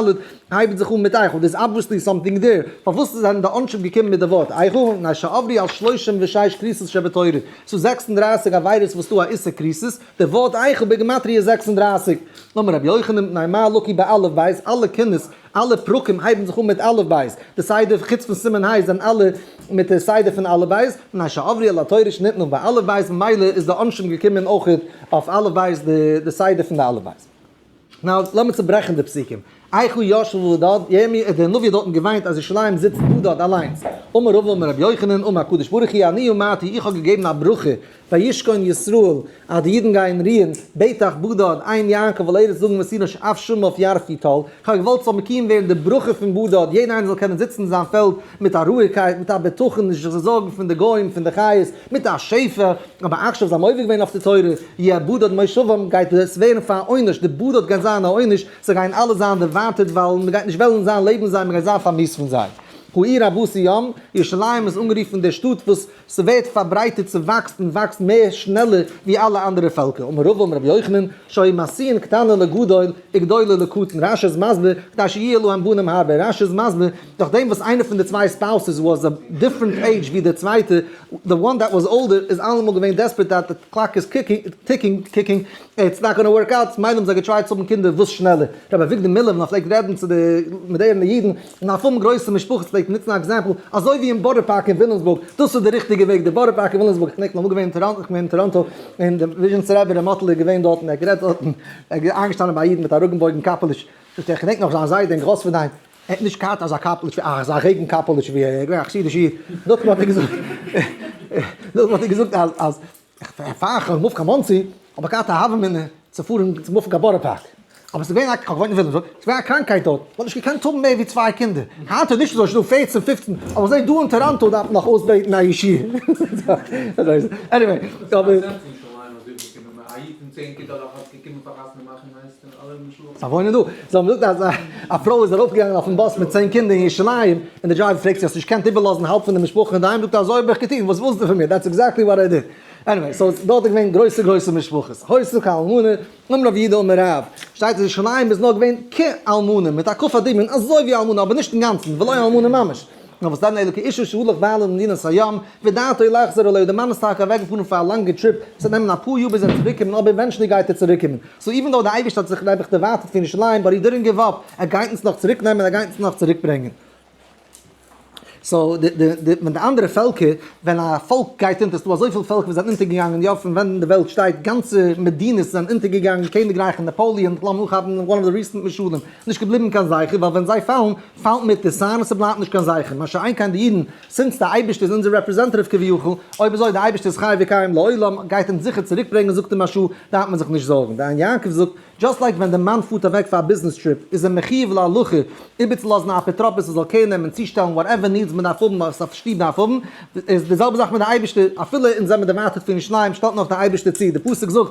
הייבן זיך אן מיט אייכו דער איז אבוויעסלי סאמטינג דער פארוואס זענען די אנשב געקומען מיט די ווארט אייכו? מפני שעברי על שלושים ושש כריסות שבתורה סאו זעקס און דרײַסיק עבירות וואס טו א איסור כריסות די ווארט אייכל בגימטריא איז זעקס און דרײַסיק. נאמען רבי יוחנן בן ניי מה לוקי באלף בית, אלע קינות, אלע פרקים הייבן זיך אן מיט אלף בית, די סדר, חוץ פון סימן ה' זענען אלע מיט די סדר פון אלף בית, מפני שעברי על התורה שנתנו באלף בית ממילא איז די עונשים געקומען אויך אויף אלף בית די סדר פון די אלף בית. נאו, לאמיר צוברעכן די פסוקים. איכה ישב בדד, ירמי' דער נביא האט דארטן געוויינט אז ירושלים זיצט בדד אליינס. אמר רבא אמר רבי יוחנן אמר הקדוש ברוך הוא אני אמרתי איך האב געגעבן א ברכה וישכון ישראל אז די אידן גייען רוען, בטח בדד, עיין יעקב על ארץ זאגן מסירה שאף שמו אויף יער פיטאל, איך האב געוואלט ס'זאל מקיום ווערן די ברכה פון בדד, יעדער איינער זאל קענען זיצן אין זיין פעלד, מיט א רואיגקייט, מיט א בטחון, נישט זיך צו זארגן פון די גוים, פון די חיות, מיט א שפע, אבער עכשיו זיי האבן עובר געווען אויף די תורה, יעבוד עד מושבם, גייט עס ווערן פאר א עונש, די באדע האט גייט זיין א עונש, זיי גייען אלע זיין דערווארטעט, ווייל מען גייט נישט וועלן זיין לעבן זיי, מען גייט זיין פארמיסט פון זיי. הוא עיר רבות היום, ירושלים איז אנגערופן די שטאט וואס ס'ווערט פארברייטערט, ס'וואקסט און וואקסט מער שנעלער ווי אלע אנדערע פעלקער, אמר רבא אמר רבי יוחנן, שהי' מעשין קטנה לגדול, וגדולה לקטן, רשי איז מסביר, כדי שיהיה להם בנים הרבה, רשי איז מסביר, נאכדעם וואס איינע פון די צוויי ספאוסעס וואס א דיפרענט עידזש ווי די צווייטע, די וואן דעט וואס אולדער איז אלעמאל געווען דעספערעט דעט די קלאק איז טיקינג, איטס נאט גאנע ווארק אוט, מילא האבן זיי געטרייט צו האבן קינדער וואס שנעלער. רבי אביגדור מילער ווען ער פלעגט רעדן צו די מאדערענע אידן און א פארום גרויסע משפחות פלעגט ער נוצן א עקזעמפל אזוי ווי אין בארא פארק אין וויליאמסבורג, דאס איז די ריכטיגע וועג, די בארא פארק אין וויליאמסבורג, איך דענק נאך געווען אין טאראנטא און די וויזשניצע רבי ר' מאטל איז געווען דארט און ער האט גערעדט דארט און ער איז איינגעשטאנען ביי א איד מיט א ראגענבויגן קאפעלוש, איך דענק נאך זיין זיידע און גראספערדיין. ער האט נישט געהאט אזא קאפעליטש ווי אייך, אזא רעגן קאפעליטש ווי אייך, געווען א חסידישע איד, נאכדעם האט ער געזאגט, נאכדעם האט ער געזאגט אז אז פאר איך בין מופט קיין מאנסי האב איך געהאט א הווא אמינא צו פארן צו מופן קיין בארא פארק, אבער ס'איז געווען א, איך האב געוואוינט אין וויליאמסבורג, ס'איז געווען א קראנקהייט דארט, מ'האט נישט געקענט האבן מער ווי צוויי קינדער, היינט איז נישט אזוי, ס'איז דא פֿערצן פֿופֿצן, אבער זעה דא אין טאראנטא דארף מען נאך אויסבעטן א ישיבה, עניוועי, אבער. וואוינען דא. זיי האבן געזאגט אז א פרוי איז ארויפגעגאנגען אויפן באס מיט צען קינדער אין ירושלים, און די דרייווער פרעגט זי האסט נישט געקענט איבערלאזן האלב פון די משפחה אינדערהיים, זאגט ער אזוי האב איך געטון, וואס ווילסטו פון מיר, דעטס עקזעקטלי וואט איי דיד. עניוועי, סאו דארט איז געווען גרויסע גרויסע משפחות, הויזן כ א אלמנה, אום רב י ד אום רב, שטייט אז ירושלים איז נאר געווען כ א אלמנה, מיט א כ א דמיון אזוי ווי אלמנה אבער נישט אינגאנצן, ולא אלמנה ממש. נאר וואס דען אלוקי איש אשר הלך וויילען אין מדינת הים, ודעתו לחזור אליו, די מאן איז טאקע אוועק געפארן פאר א לאנגע טריפ, עס וועט נעמען אפאר יאר ביז ער וועט צוריק קומען אבער עווענטשעלי גייט ער צוריק קומען, סאו איווען דאו די אייבערשטער האט זיך נעבעך דערווייטערט פון ירושלים באט הי דידענט גיוו אפ, ער גייט אונז נאך צוריק נעמען ער גייט אונז נאך צוריק ברענגען. סאו די די די ווען די אנדערע פעלקער, ווען א פאלק גייט אונטער, ס'איז דא אזויפיל פעלקער וואס זענען אונטער געגאנגען יא פון ווען די וועלט שטייט, גאנצע מדינות זענען אונטער געגאנגען, קעניגרייכן, נאפאליען, כ'לאז מיר אנכאפן וואן אוו די ריסענט משלים. נישט געבליבן קיין זכר, ווייל ווען זיי פאלן, פאלט מיט די סיין און ס'בלייבט נישט קיין זכר, מה שאין כן די אידן, זינט די אייבערשטער איז אונזער רעפרעזענטעטיוו כביכול, אויב אזוי די אייבערשטער איז חי וקיים לעולם, גייט אונז זיכער צוריק ברענגען זאגט אים משהו, דארף מען זיך נישט זארגן, די עין יעקב זאגט, דזשאסט לייק ווען די מאן פארט אוועק פאר א ביזנעס טריפ, איז ער מחיוב להלכה איבערצולאזן א אפוטרופוס ער זאל קעיר נעמען, צושטעלן וואטעווער נידס מען דארף האבן, וואס א שטוב דארף האבן, איז די זעלבע זאך מיט די אייבערשטער, אפילו אונז זעמער דערווייטערט פון ירושלים, שטעלט נאך די אייבערשטער צו, די פסוק זאגט,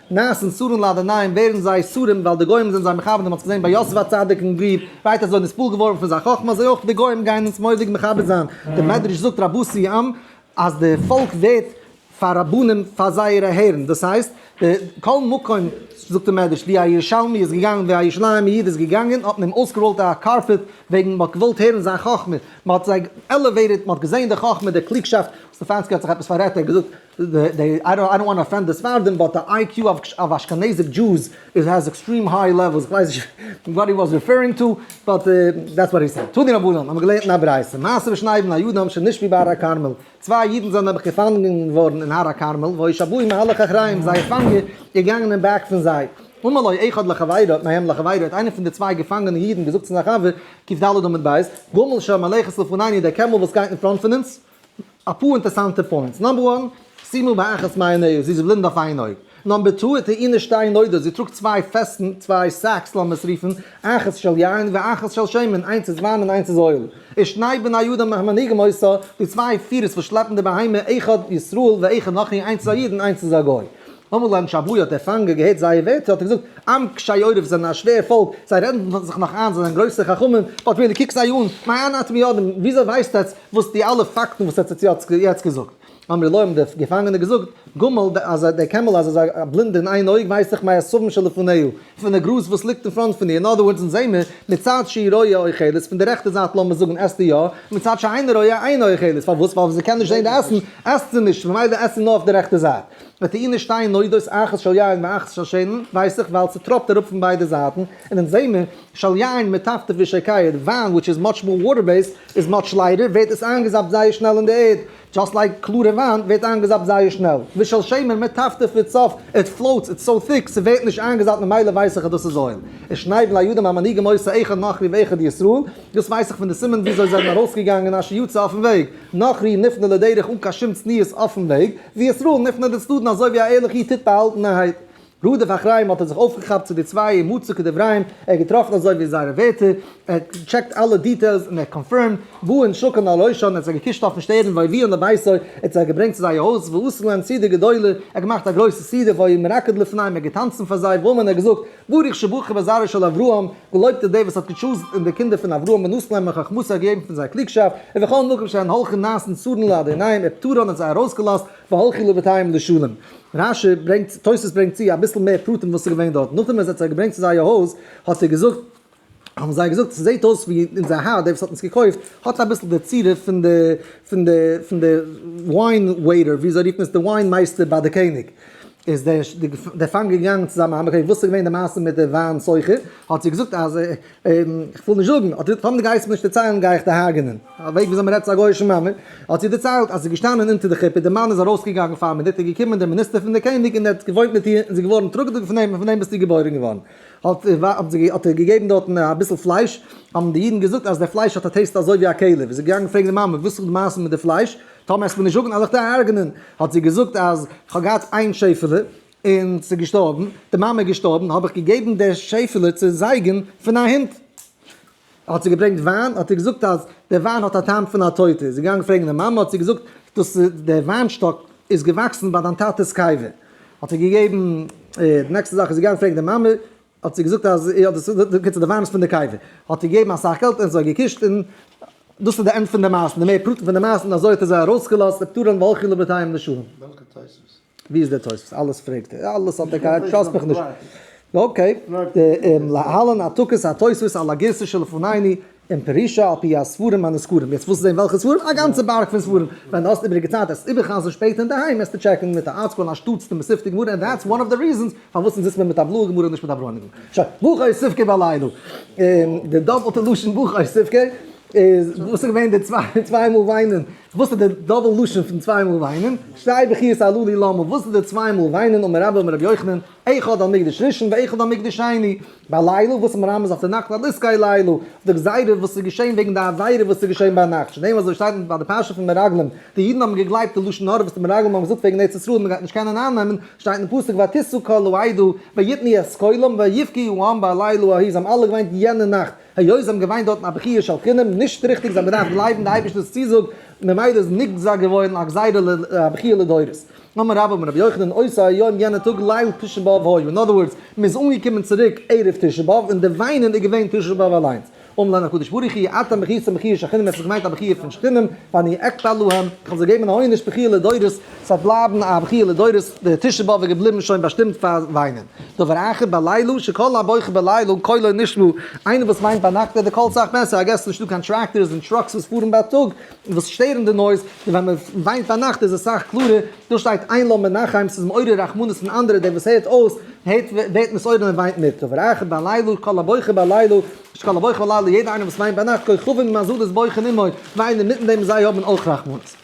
נעשן סרים ליידער ניין ווערן זיי סרים ווייל די גוים זענען זיי מכבד מען האט עס געזען ביי יוסף הצדיק און וויב ווייט אזוי נספל געווארן פון זיין חכמה אזוי אויך די גוים גייען אונז מוראדיג מכבד זיין די מדרש זאגט רבותי עם אז די פאלק ווערט פאר רבנים פאר זייערע הערן דאס הייסט די כל מקום זאגט די מדרש ווי א ירושלמי איז געגאנגען ווי א ירושלימע איד איז געגאנגען האט מען אים אויסגעראולט א קארפעט וועגן מען האט געוואלט הערן זיין חכמה מען האט זיי עלעוועיטעד מען האט געזען די חכמה די קלוגשאפט סטעפאנסקי האט זיך עפעס פאררעדט ער האט געזאגט איי דאנט וואנט טו אפענד די ספרדים באט די איי קיו אוו אשכנזיק דזשוס איז העז עקסטרים היי לעוועלס, איך ווייס נישט וואט הי וואס ריפערינג טו באט דעטס וואט הי סעד. תני רבנן, האט מען געלערנט אין א ברייתא, מעשה בשני בני יודען שנשפו בהר הכרמל, צוויי יודן זענען נעבעך געפאנגען געווארן אין הר הכרמל, והוי שבוי מהלך אחריהם, זייער פאנגער איז געגאנגען אין בעק פון זיי, אמר לו אחד לחבירו, האט מהם לחבירו, האט איינער פון די צוויי געפאנגענע יודן געזאגט צו זיין חבר, קוף ד' עמוד ב', גמל שהמלכת לפנינו, דער קעמל וואס גייט אין פראנט פון אונז, אפאר אינטערסאנטע פוינטס, נאמבער וואן, שימו באחת מעיניה, זי איז בלינד אויף איין אויג. נאמבער טו, את העיר נישט איין אוידער, זי טראגט צוויי פעסטן, צוויי סעקס לאמיר עס רופן, אחת של יין ואחת של שמן, איינס איז וויין און איינס איז אויל. און שני בני יודא מנהיגים אותה, די צוויי פירערס וואס שלעפן די בהמה, אחד ישראל ואחד אחי, איינס איז א איד און איינס איז א גוי. אמאל אין שבוי האט ער פאנגען געהערט זייער ווערטער האט ער געזאגט, עם קשי עורף זענען א שווער פאלק, זיי רעדן זיך נאך איין זיי זענען גרויסע חכמים, באט ווען דו קוקסט זיי אן, מעיין אתמי ידען, וויאזוי ווייסטו עטץ וואס די אלע פאקטן וואס עטץ האט יעצט געזאגט? אמר להם דער געפאנגענער געזאגט, גומל ד אז דער קעמל אז עס איז א בלינדער אין איין אויג ווייס איך מעשבים שלפניהו, פון די גראז וואס ליגט אין פראנט פון איר, אין אדער ווארדס אונז זעהן מיר, מצד שהיא רואה אוכלת, פון די רעכטע זייט לאמיר זאגן עסט זי יא, ומצד שאינה רואה אינה אוכלת, פארוואס ווייל ווען זי קען נישט זעהן די עסן, עסט זי נישט, ממילא עסט זי נאר אויף די רעכטע זייט. וועט אי נישט שטיין נודות אחת של יין ואחת של שמן, ווייס איך ווייל ס'טראפט אראפ פון ביידע זייטן, און אונז זעהן מיר של יין מטפטף ווי שעקייעט, וויין וויטש איז מאטש מאר וואטער בעיסד איז מאטש לייטער ווערט עס איינגעזאפט זייער שנעל אין די ערד, דזשאסט לייק קלארע וויין ווערט איינגעזאפט זייער שנעל, ווי של שמן מטפטף איז סאפט, איט פלאוטס, איטס סאו טיק, ס'ווערט נישט איינגעזאפט ממילא ווייס איך אז דאס איז אויל, און שניידן לידים המנהיגים עושה אחד נח לי ואחד לישראל, דאס ווייס איך פון די סימן וויאזוי זיי זענען ארויסגעגאנגען אשר יצא אויפן וועג. נוכרי נפנה לדרך אן קיין שום צניעות אויפן וועג, וישראל נפנה לצדדן אזוי ווי א ערליכע איד טוט באהאלטענערהייט. רודף אחריים האט ער זיך אויפגעכאפט צו די צוויי אין מוצא כדבריהם, ער האט געטראפן אזוי ווי זייערע ווערטער, ער האט טשעקט אלע דיטעילס און ער האט קאנפירמד, באין שוקל על ראשו ער האט זיי געקושט אויפן שטערן ויביאן לביתו ער האט זיי געברענגט צו זייער הויז ועשה להם סעודה גדולה ער האט געמאכט א גרויסע סעודה והיו מרקד לפניהם ער האט געטאנצן פאר זיי ואמרן ער האט געזאגט, ברוך שברך בזרעו של אברהם, געלויבט איז דער וואס האט געטשאזן אין די קינדער פון אברהם און אויס נעמען חכמתו א געבן פון זיין קלוגשאפט, און וכל מקום שהן הלכו נעשן צרן לאדוניהם ער פטרן האט זיי ארויס געלאזט והלכו לבתיהם לשלום. רש י ברענגט, תוס' ברענגט צו אביסל מער פרטים וואס איז געווען דארט, נאכדעם ווען ער האט זיי געברענגט צו זייער הויז האט ער געזאגט, האבן זיי געזאגט, ס'זעהט אויס ווי אונזער האר, דער וואס האט אונז געקויפט, האט אביסל די צורה פון די, פון די, פון די וויין וועיטער, ווי אזוי רופן עס, די וויין מייסטער ביי די קעניג. איז דער דער פאנגער געגאנגען צו זיין מאמע פרעגן וואס איז געווען די מעשה מיט די וויין סוחר, האט זי געזאגט אז איך וויל נישט זאגן, האט זי געזאגט טאמער די גייסט מיר נישט דערציילן גיי איך דיר הרג'ענען, א וועג ווי אזוי מען רעדט צו א גוי'אישן מאמע, האט זי דערציילט אז ס'איז געשטאנען אונטער די חופה, די מאן איז ארויס געגאנגען פאר א מינוט, איז געקומען דער מיניסטער פון די קעניג און ער האט געוואוינט מיט איר און זי איז געווארן טראגעדיג פון אים און פון דעם ביסטו געבוירן געווארן. האט ער געגעבן דארטן אביסל פלייש, האבן די אידן געזאגט אז די פלייש האט א טעיסט אזוי ווי א כלב, איז ער געגאנגען פרעגן די מאמע וואס איז די מעשה מיט די פלייש, טאמער העסטו מיר נישט זאגן אז איך טאר הרג'נען, האט זי געזאגט אז איך האב געהאט איין שעפעלע און ס'איז געשטארבן, די מאמע איז געשטארבן, האב איך געגעבן די שעפעלע צו זייגן פון א הונט. ער האט זיי געברענגט וויין, האט ער געזאגט אז דער וויין האט א טעם פון א טויטע, איז ער געגאנגען פרעגן די מאמע, האט זי געזאגט, דאס איז דער וויין שטאק איז געוואקסן ביי דיין טאטע'ס קבר, האט ער געגעבן, די נעקסטע זאך איז ער געגאנגען פרעגן די מאמע, האט זי געזאגט אז יא דאס איז, בקיצור דער וויין איז פון די קבר, האט ער געגעבן אסאך געלט און זיי געקושט, און דאס איז די ענד פון די מעשה, די מער פרטים פון די מעשה, און אזוי האט ער זיי ארויסגעלאזט, נפטרים והלכו לבתיהם לשלום. וועלכע תוספות? ווי איז דער תוספות? אלעס פרעגט ער, אלעס האט ער געהאט טראסט מיך נישט. אקעי, להלן העתקות התוספות על הגירסא שלפנינו אין פרישא על פי הספרים הנזכרים. יעצט ווילסטו זען וועלכע ספרים? א גאנצע בארג פון ספרים. ווען די האסט איבעריגע צייט עס איבערחזר'ן שפעטער אינדערהיים וועסטו טשעקן מיט א ארטסקרול אנשטאטס די מסופתא גמרא און דעטס וואן אוו די ריזענס פארוואס אונז זיצט מיר מיט א בלויע גמרא און נישט מיט א ברוינע גמרא. שוין, בוכאי ספקא בעלינו. די דאפעלטע לשון בוכאי ספקא איז וואס איז געווען די צוויי מאל וויינען. וואס איז די דאבל לשון פון צוויי מאל וויינען? שתי בכיות עלו לי למה, וואס איז די צוויי מאל וויינען אמר רבא אמר ר' יוחנן, אחד על מקדש ראשון ואחד על מקדש שני, ביי לילה וואס מרמז אויף די נאכט על עסקי לילה, אויף די גזירה וואס איז געשען וועגן די עבירה וואס איז געשען ביינאכט, שניהם אזוי שטייט אין ביי די פרשה פון מרגלים, די אידן האבן געגלייבט די לשון הרע וואס די מרגלים האבן געזאגט וועגן ארץ ישראל מען גייט נישט קענען אייננעמען, שטייט אין פסוק ותשא כל העדה ויתנו את קולם ויבכי העם בלילה ההיא, זיי האבן אלע געוויינט יענע נאכט. היות זיי האבן געוויינט דארטן א בכיה של חינם, נישט ריכטיג, זיי האבן געדארפט גלייבן די אייבערשטער'ס צוזאג, ממילא איז נגזר געווארן א גזירה ל ל א בכיה לדורות. אמר רבא בן רבי יוחנן עושה היום יענע טאג ליל תשעה באב היה, אין אדער ווארדס, מען איז אנגעקומען צוריק ערב תשעה באב און די וויינען איז געווען תשעה באב אליינס. אמר להם הקדוש ברוך הוא אתם בכיתם בכיה של חינם, עס איז געמיינט א בכיה פון שכנים, ואני אקטע להם, איך וועל זיי געבן א עונש בכיה לדורות, ס'וועט בלייבן א בכיה לדורות, די תשעה באב איז געבליבן שוין באשטימט פאר וויינען. דבר אחר בלילה, שכל הבוכה בלילה קולו נשמע, איינער וואס וויינט ביינאכט הערט די קול סאך בעסער, איי געס ס'איז נישטא קיין טרעקטארס און טראקס וואס פארן בייטאג וואס שטערן די נויז, און ווען מען וויינט ביינאכט איז עס סאך קלארער, דא שטייט איין לא מנחם, ס'איז מעורר רחמנות אין אנדערע, דער וואס הערט אויס הערט ווערט מסעודה און וויינט מיט, דבר אחר בלילה, קול הבוכה בלילה, שכל הבוכה בלילה, יעדער איינער וואס וויינט ביינאכט כוכבים ומזלות בויכען עמו, וויינען מיטן דעם זיי האבן אויך רחמנות.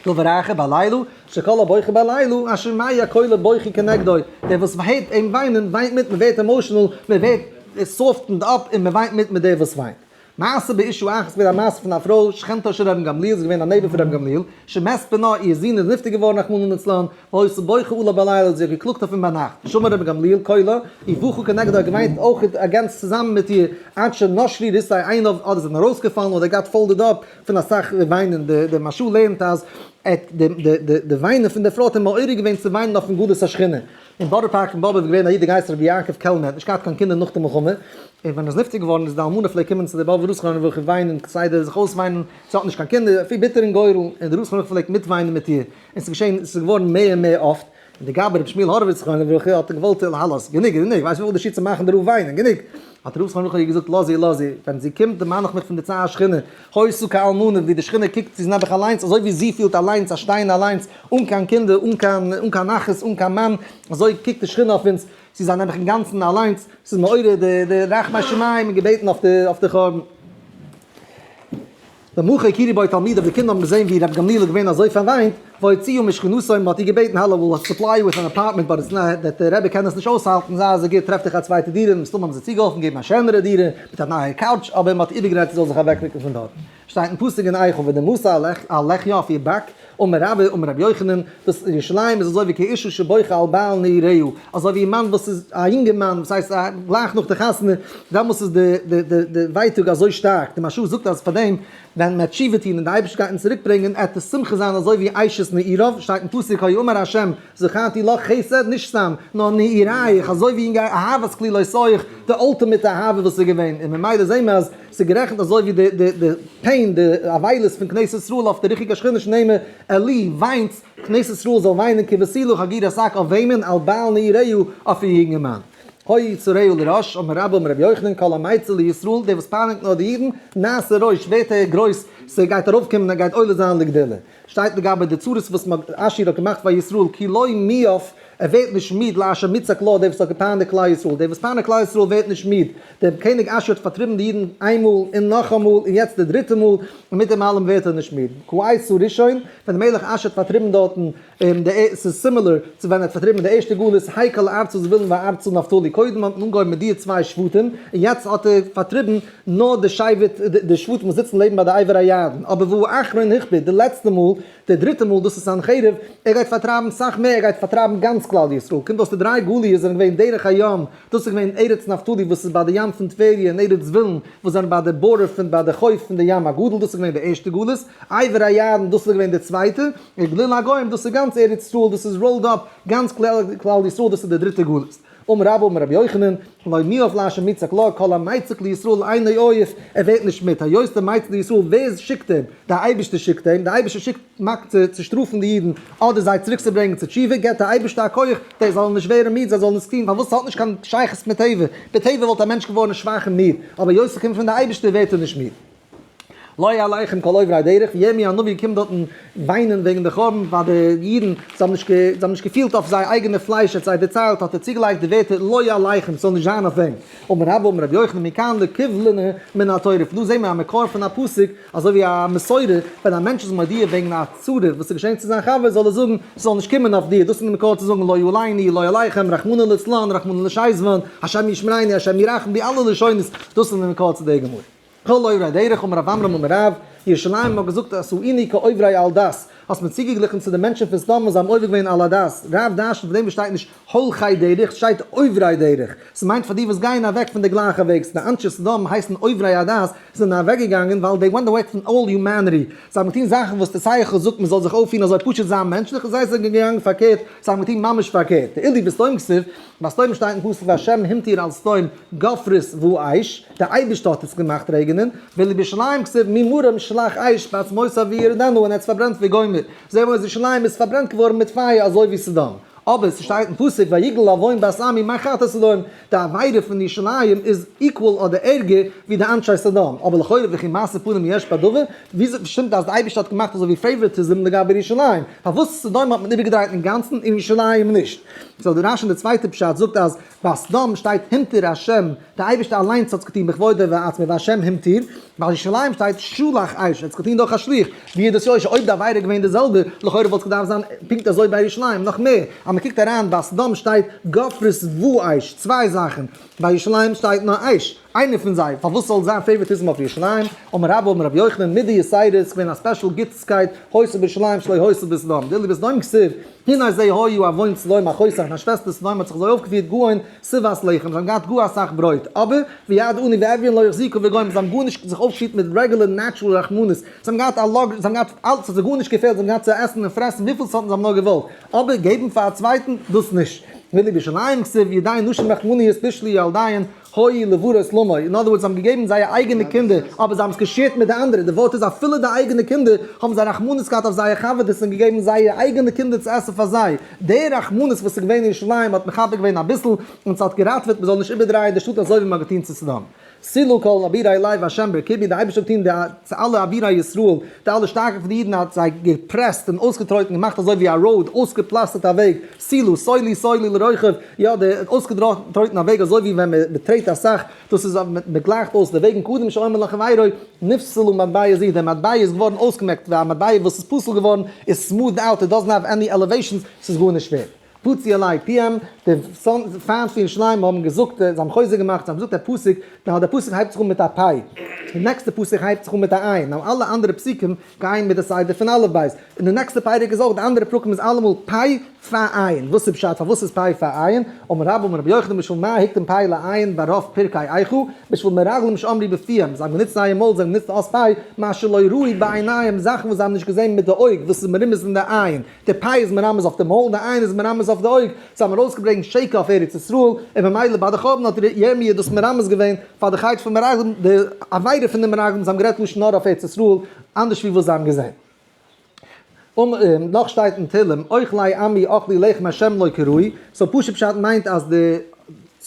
טוב ורחב הלילו, שכל הבוחר בלילה, השמעי הקול הבוכי כנגדו, דער וואס מ'הערט אים וויינען, וויינט מיט, מ'ווערט אימאשענעל, מ'ווערט סאפטענד אפ און מ'וויינט מיט מיט דער וואס וויינט. מעשה באישו אח, עס איז געווען א מעשה פון א פרוי, שכנתו של ר' גמליאל, זי איז געווען א נייבער פון ר' גמליאל, שמת בנה, איר זון איז נפטר געווארן רחמנא לצלן, והיתה בוכה עליו בלילה, זי האט געקלאגט אויף אים ביינאכט, שמע ר' גמליאל קולה, איר בכה כנגדו, ער האט געוויינט אויך אגענס צוזאמען מיט איר, עד שנשלי ריסי עיניו, אדער זענען ארויסגעפאלן, אדער געהאט פאלדעד אפ, פון אסאך וויינען, דער משל לערנט אז די וויינען פון די פרוי האט אים מעורר געווען צו וויינען אויפן גלות השכינה. אין בארא פארק אין באבוב איז געווען א איד געהייסן רבי יעקב קעלנער, האט נישט געהאט קיין קינדער נאך די מלחמה, און ווען ער איז נפטר געווארן איז די אלמנה פלעגט קומען צו די באבובער ראש חנוכה און וויינען כסדר זיך אויסוויינען, זי האט נישט קיין קינדער, אפי' ביטער אין גורל, און די ראש חנוכה פלעגט מיטוויינען מיט איר, און ס'איז געשען, ס'איז געווארן מער און מער אפט. לגבי רבי שמואל הורוויץ זכרונו לברכה האט ער געוואלט אל הלאס, גענוג איז גענוג, ווייסט וויפיל די שטיצער מאכן דערויף וויינען, גענוג, האט ר' זכרונו לברכה איר געזאגט לאז איר לאז איר, ווען זי קומט דערמאן איך מיך פון די צער השכינה, הוי סוכה אלמנה, ווי די שכינה קוקט צו זי נעבעך אליינס, אזוי ווי זי פילט אליינס אז שטייען אליינס אן קיין קינדער אן קיין אן קיין אחים אן קיין מאן, אזוי קוקט די שכינה אויף אונז צו זיין נעבעך אינגאנצן אליינס, עס איז מעורר די רחמי שמים און געבעטן אויף די חורבן. דער מוכר יקירי בית תלמידיו, די קינדער האבן געזען ווי רבי גמליאל איז געווען אזוי פארוויינט, והוציאו משכנותיו, מען האט איר געבעטן הלו וויל אויס סופליי יו וויט אן אפארטמענט באט איטס נאט דעט, דער רבי קען עס נישט אויסהאלטן, זיי אזוי גוט, טרעף דיך א צווייטע דירה, מסתמא האבן זיי צוגעהאלפן געבן א שענערע דירה, מיט א נייע קאוטש, אבער מען האט איבערגערעדט זי זאל זיך אוועקרוקן פון דארט. שטייט אין פסוק אין איכה, ודי משא על לחי אויף איר באק, אמר רבא אמר רבי יוחנן, דאס ירושלים איז אזוי ווי כאישה שבוכה על בעל נעריה, אזוי ווי א מאן וואס איז, א יונגערמאן וואס הייסט א, גלייך נאך די חתונה, דעמאלס איז די די די די ווייטאג אזוי שטארק, די משל זאגט אז פאר דעם ווען מען וועט תשובה טון און די אייבערשטער גייט אונז צוריק ברענגען, עט די שמחה זיין אזוי ווי אשת נעריו, שטייט אין פסוק הוי אמר ה' זכרתי לך חסד, נישט סתם, נאר נערייך, אזוי ווי אהבת כלילות אויך, די אלטימעט אהבה וואס איז געווען, און ממילא זעהן מיר אז. ס'איז גערעכנט אזוי ווי די די די פעין די אבילות פון כנסת ישראל אויף די ריכיגע שכינות נעמער אלי וויינס כנסת ישראל זאל וויינען כבשילו חגיר עסק אויף וועמען על בעל נעירהו אויף איר יונגערמאן הוי צורהו לראש אמר רבא אמר רבי יוחנן כל המעצר לישראל דער וואס פייניגט נאר די אידן נעשה ראש ווערט ער גרויס ס'גייט ארויפקומען ער גייט עולה זיין לגדולה. שטייט לגבי די צרות וואס עשור האט געמאכט פאר ישראל כי לא מיאוס ער ווערט נישט מיד לאשר מצעק לו דער וואס האט געפייניגט כלל ישראל דער וואס פייניגט כלל ישראל ווערט נישט מיד דער קעניג עשור האט פארטריבן די אידן איינמאל און נאכאמאל און יעצט די דריטע מאל און מיט דעם אלעם ווערט ער נישט מיד כעשור ראשון ווען דער מלך עשור האט פארטריבן דארטן ס'איז סימילער צו ווען ער האט פארטריבן די ערשטע גלות היי כל ארצות ווילן וארצות נפתלי קודם האט מען אנגעהויבן מיט דיע צוויי שבטים און יעצט האט ער פארטריבן נאר די שבט, די שבטים וואס זיצן לעבן ביי די עבר הירדן, אבער והוא אחרון הכפית, די לעצטע מאל, די דריטע מאל, דאס איז סנחריב, ער גייט פארטרייבן סאך מער, ער גייט פארטרייבן גאנץ כלל ישראל, קומט אויס די דריי גליות זענען געווען דרך הים, דאס איז געווען ארץ נפתלי וואס איז ביי די ים פון טבריה און ארץ זבולון וואס זענען ביי די בארער פון ביי די חוף פון די ים הגדול, דאס איז געווען די ערשטע גלות, עבר הירדן, דאס איז געווען די צווייטע, און גליל הגוים, דאס איז גאנץ ארץ ישראל, דאס איז ראולד אפ, גאנץ כלל ישראל, דאס איז די דריטע גלות. אמר רבא אמר רבי יוחנן, לא מיאוס לאשה מצעק לה, כל המייצג לישראל אינו עוף, ער ווערט נישט מיד, היות דער מייצג לישראל, ווער שיקט אים? דער אייבערשטער שיקט אים, דער אייבערשטער שיקט מקץ צו שטראפן די אידן, אדער זיי צוריק צו ברענגען צו תשובה, געבט דער אייבערשטער א כח זיי זאלן נישט ווערן מיד, זיי זאלן עס טון, פארוואס עס האט נישט קיין שייכות מיט טבע, בטבע וואלט א מענטש געווארן שוואך און מיד, אבער היות עס קומט פון דער אייבערשטער ווערט ער נישט מיד. לא יהיה עליכם כל עוברי הדרך, ווי ירמי' הנביא קומט דארטן וויינען וועגן די חורבן פאר די אידן, זיי האבן נישט נישט געפילט אויף זייער אייגענע פלייש, ער האט זיי דערציילט, האט ער צוגעלייגט די ווערטער לא יהיה עליכם, ס'זאל נישט זיין אויף וועם. אמר רבא אמר רבי יוחנן מכאן לקובלנה מן התורה, פון דא זעהן מיר א מקור פון א פסוק, אזוי ווי א מסורה, ווען א מענטש איז מודיע וועגן א צרה וואס איז געשען צו זיין חבר, זאל ער זאגן, ס'זאל נישט קומען אויף דיר, דאס איז די מקור צו זאגן לא יהיו עליני, לא יהיה עליכם, רחמנא לצלן, רחמנא לשייזוון, השם ישמריני, השם ירחם, די אלע לשונות, דאס איז די מקור צו דער גמרא. כל עוברי הדרך האבן ר' עמרם און ר' ירושלים האט געזאגט עשאיני כעוברי אל דת, האסט מיר צוגעגליכן צו די מענטשן פון סדום וואס זיי האבן עובר געווען אל הדת, רב דרש'נט פון דעם וואס שטייט נישט הולכי דרך, ס'שטייט עוברי דרך, ס'מיינט פאר די וואס גייען אוועק פון די גלייכע וועג, ס'די אנשי סדום הייסן עוברי הדת, זיי זענען אוועק געגאנגען ווייל דעי ווענט אוועי פון אלל יומעניטי, זיי האבן געטון זאכן וואס די שכל זאגט מען זאל זיך אויפפירן אזוי פשוט זיין מענטשליך און זיי זענען געגאנגען פארקערט, זיי האבן געטון ממש פארקערט, די אלי וסתום כסף ביי סדום שטייט אין פסוק והשם המטיר על סדום גופרית ואש, דער אייבערשטער האט עס געמאכט רעגענען, ועל ירושלים כסיב מי מרים שלח אש בעצמות אבי ירדנו און ער האט עס פארברענט ווי גומר, זעה וואס ירושלים איז פארברענט געווארן מיט פייער אזוי ווי סדום, אבער ס'שטייט אין פסוק ויגל עוון בת עמי מה חטא סדום, די עבירה פון ירושלים איז equal אדער ערגער ווי די אנשי סדום, אבער לכאורה וכי מעשה פנים יש בה דבר, וויאזוי שטימט אז די אייבערשטער האט געמאכט אזוי ווי פעיוואריטיזם לגבי ירושלים, פארוואס סדום האט מען איבערגעדרייט אינגאנצן און ירושלים נישט? סאו די רש אין די צווייטע פשט זאגט אז ביי סדום שטייט הימתיר השם, די אייבערשטער אליינס האט עס געטון בכבודו ועצמו והשם הימתיר, ביי ירושלים שטייט שלח איש, ער האט עס געטון דורך א שליח, ווי איז דאס יושר, אויב די עבירה איז געווען די זעלבע, לכאורה וואלט עס געדארפט זיין פונקט אזוי ביי ירושלים, נאך מער, אז מען קוקט אריין ביי סדום שטייט גפרית ואיש, צוויי זאכן, ביי ירושלים שטייט נאר איש. איינער פון זיי, פארוואס זאל זיין פעיווארטיזם אויף ירושלים, אמר רבא אמר רבי יוחנן, מיט די יסיידעס געווען א ספעשל גוטסקייט, הוסף בירושלים שלא הוסף בסדום, דער לבסדום כסוף, הנה זה היו אבוין סדום א חוסך, זיין שוועסטער סדום האט זיך אזוי אויפגעפירט גאון סבת לחם, זיי האבן געהאט גאר אסאך ברויט, אבער, ויעד עני ואביון לא החזיקו וגוים, זיי האבן גארנישט זיך אויפגעפירט מיט רעגולער נעטשרול רחמנות, זיי האבן געהאט א לאגער, זיי האבן געהאט אלץ, ס'האט זיי גארנישט געפעלט, זיי האבן געהאט צו עסן און פרעסן וויפיל סארטן זיי האבן נאר געוואלט, אבער געבן פאר א צווייטן, דאס נישט. הנה בירושלים כסוף, ידי נשים רחמניות תשלי ילדיהן, הוי לברות לאמור, אין אנדער ווארדס זיי האבן געגעבן זייער אייגענע קינדער אבער זיי האבן עס נישט געשערט מיט די אנדערע, די ווארט איז אפילו די אייגענע קינדער האבן זיי רחמנות געהאט אויף זייער חבר'טעס און געגעבן זייערע אייגענע קינדער צו עסן פאר זיי, די רחמנות וואס איז געווען אין ירושלים האט מכבד געווען אביסל און ס'האט געראטוועט מען זאל נישט איבערדרייען די שטאט אזוי ווי מ'האט געטון צו סדום. סילא כל אבירי אלי והשם ברכבי, די אייבערשטער האט געטון די צו אלע אבירי ישראל, די אלע שטארקע פון די אידן האט זיי געפרעסט און אויסגעטרויטן געמאכט אזוי ווי א ראוד, אויסגעפלאסטערט א וועג, סילא סולי סולי לרוחב, יא די אויסגעטרויטן א וועג אזוי ווי ווען מען טרעט אסאך דאס איז מען גלייכט אויס די וועגן קודם שאומר לך ואירוי נפסלו מטבע ז די מטבע איז געווארן אויסגעמעקט ווי א מטבע וואס איז פסול געווארן איז סמוטד אוט איט דאזענט האוו עני עלעוועישאנס ס'איז גארנישט ווערד פצי אלי' פיהם די פיינס פון שלמה האבן געזאגט זיי האבן חוזק געמאכט זיי האבן געזאגט א פסוק נאר די פסוק הייבט זיך אן מיט א פי' די נעקסטע פסוק הייבט זיך אן מיט א עין נאר אלע אנדערע פסוקים גייען מיט די סדר פון אלף בית און די נעקסטע פרק איז אויך די אנדערע פרקים איז אלעמאל פי' פאר עיין, וואס איז פשט? פארוואס איז פיי פאר עיין? אמר רבא אמר רבי יוחנן בשביל מה היתכן פיי לעיין ברוב פרקי איכה, בשביל מרגלים שאמרו בפיהם, זיי האבן גענוצט זייער מויל, זיי האבן גענוצט אלס פיי, מה שלא ראו בעיניהם, זאכן וואס זיי האבן נישט געזען מיט די אויג, וואס איז מרומז אין די עיין, די פיי איז מרמז אויף די מויל, די עיין איז מרמז אויף די אויג, זיי האבן ארויסגעברענגט שקר אויף ארץ ישראל, און ממילא ביי די חורבן האט ירמי' דאס מרמז געווען פאר די חטא פון מרגלים, די עבירה פון די מרגלים, זיי האבן גערעדט לשון הרע אויף ארץ ישראל, אנדערש ווי וואס זיי האבן געזען. נאך שטייט אין תהלים אויך ליי עמי אכלי לחם השם לא כראוי, סאו פשוט פשט מיינט אז די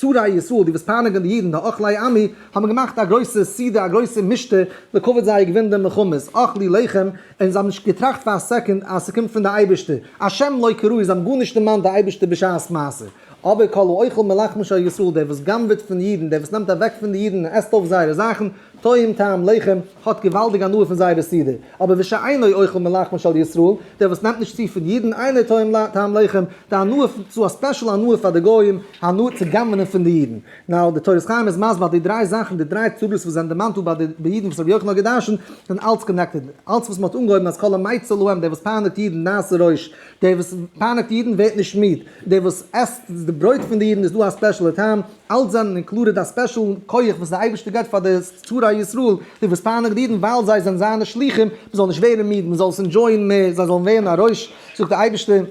שרי ישראל די וואס פייניגען די אידן די אוכלי עמי האבן געמאכט א גרויסע סעודה א גרויסע משתה לכבוד זייער געווינען די מלחמה אכלי לחם און זיי האבן נישט געטראכט פאר א סעקונד אז ס'קומט פון די אייבערשטער השם לא כראוי זיי האבן גארנישט דערמאנט די אייבערשטער בשעת מעשה. אבער כל האוכל מלחמו של ישראל, דער וואס גנב'עט פון אידן, דער וואס נעמט אוועק פון די אידן און עסט אויף זייערע זאכן, טועם טעם לחם, האט געוואלדיג הנאה פון זייערע סידור. אבער וש ש אינו אוכל מלחמו של ישראל, דער וואס נעמט נישט צו פון אידן, אינו טועם טעם לחם, די הנאה פון, צו א ספעשל הנאה פאר די גוים, הנאה צו גנב'נען פון די אידן. נאו, די תורת חיים איז מסביר אז די דריי זאכן, די דריי צרות וואס זענען דערמאנט דא ביי די ביי אידן וואס רבי יוחנן האט גע'דרש'נט, זענען אלץ קאנעקטעד. אלץ וואס מ'האט אנגעהויבן אז כל המעיץ על העם, דער וואס פייניגט אידן נעשה רעש, דער וואס פייניגט אידן ווערט נישט מיד, דער וואס עסט די ברויט פון די אידן איז דא א ספעשלער טעם, אלץ זענען אינקלודעד א ספעשל כח וואס די אייבערשטער געבט פאר די שרי ישראל, די וואס פארנאגט די אידן ווייל זיי זענען זיינע שלוחים, מען זאל נישט ווערן מיד, מען זאל עס אינדזשויען מער, זיי זאלן ווערן א רעש, זאגט די אייבערשטער,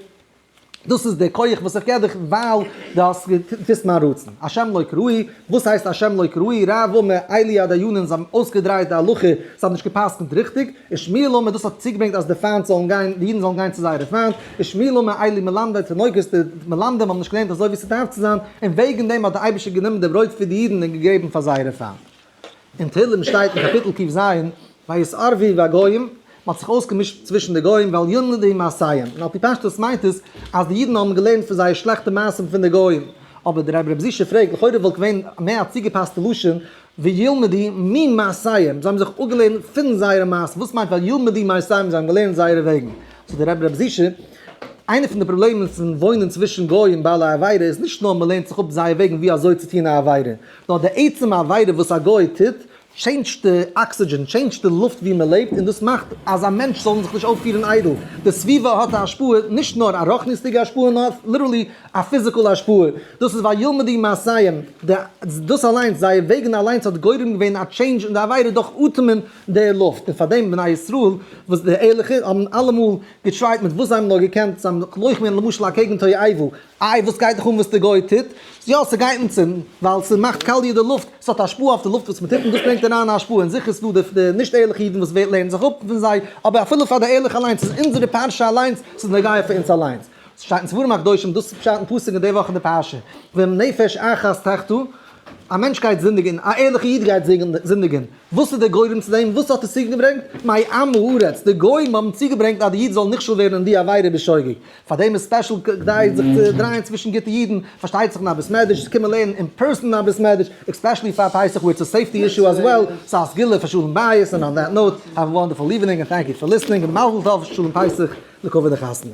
דאס איז די כח וואס איך געב דיך ווייל די האסט געטוסט מיין רצון. השם לא כראוי, וואס הייסט השם לא כראוי, ר' אברהם מאיעלי א דיינים, זיי האבן אויסגעדרייט די הלכה, זיי האבן נישט געפסקנט ריכטיג, און שמואל המר דאס האט צוגעברענגט אז די פיינט זאלן גיין, די אידן זאלן גיין צו זייערע פיינט, בשמי לא מאי לי מלמדי תינוקות, די מלמדים האבן נישט געלערנט אזוי ווי ס'דארף צו זיין, און וועגן דעם האט דער אייבערשטער גענומען די ברויט פון די אידן און געגעבן פאר זייערע פיינט. אין תהילים שטייט אין קאפיטל קי ז, ויסערבי בגוים, מ'האט זיך אויסגעמישט צווישן די גוים ועל יונדי מעשיהם, און על פי פשטות מיינט עס אז די אידן האבן געלערנט פון זייער שלעכטע מעשים פון די גוים. אבער דער רב ר' זישע פרעגט, לכאורה וואלט געווען מער א צוגעפאסטע לשון, וילמדי ממעשיהם, זיי האבן זיך אפגעלערנט פון זייערע מעשים, וואס מיינט וילמדי ממעשיהם זיי האבן געלערנט זייערע וועגן? זאגט דער רבי רבי זישע, איינע פון די פראבלעמען פון וואוינען צווישן גוים בעלי עבירה איז נישט נאר מ'לערנט זיך אפ זייער וועגן ווי אזוי צו טון א עבירה, נאר די עצם עבירה וואס א גוי טוט טשעינדזשט די אקסידזשען, טשעינדזשט די לופט ווי מ'לעבט, און דאס מאכט אז א מענטש זאל זיך נישט אויפפירן איידל, די סביבה האט א השפעה, נישט נאר א רוחניות'דיגע השפעה נאר ליטערלי א פיזיקאלע השפעה, דאס איז ווייל ילמדו מעשיהם, די דאס אליינס, זייער וועגן אליינס האט גורם געווען א טשעינדזש אין די עבירה דורך אטעמען די לופט, און פארדעם בני ישראל, וואס די ערליכע, האבן אלעמאל געטרייט מיט וואס זיי האבן נאר געקענט, זיי האבן געלויכט ווען למשל אקעגן תועבה, איי וואס גייט דיך אן וואס די גוי טוט, יא ס'גייט אונז אן, ווייל ס'מאכט קאליע די לופט, ס'האט השפעה אויף די לופט וואס מ'טוט און דאס ברענגט אריין א השפעה, און זיכער איז דא די נישט ערליכע אידן וואס לערנען זיך אפ פון זיי, אבער אפילו פאר די ערליכע אליינס איז אונזערע פרשה אליינס, ס'איז נוגע פאר אונז אליינס. ס'שטייט אין ספרים הקדושים דאס איז פשט אין פסוק אין די וואך אין די פרשה, ואם נפש אחת תחטא, א מענטש גייט זינדיגען, א ערליכע איד גייט זינדיגען, וואס איז דער גורם צו דעם, וואס האט עס צוגעברענגט, מיי עם הארץ, די גוים האבן צוגעברענגט אז די איד זאל נכשל ווערן אין די עבירה בשוגג, פאר דעם איז ספעשל כדי זיך צו דרייען צווישן גוטע אידן, פארשטייט זיך אין א בית מדרש, צו קומען לערנען אין פערסאן אין א בית מדרש, עקספעשעלי פאר פסח ווער איטס א סעיפטי אישו עז וועל, סא א סגולה פאר שלום בית, און אן דעט נאוט, העוו א וואנדערפול איווענינג און טענק יו פאר ליסטענינג, און מזל טוב שלום פסח לכבוד די חתונה.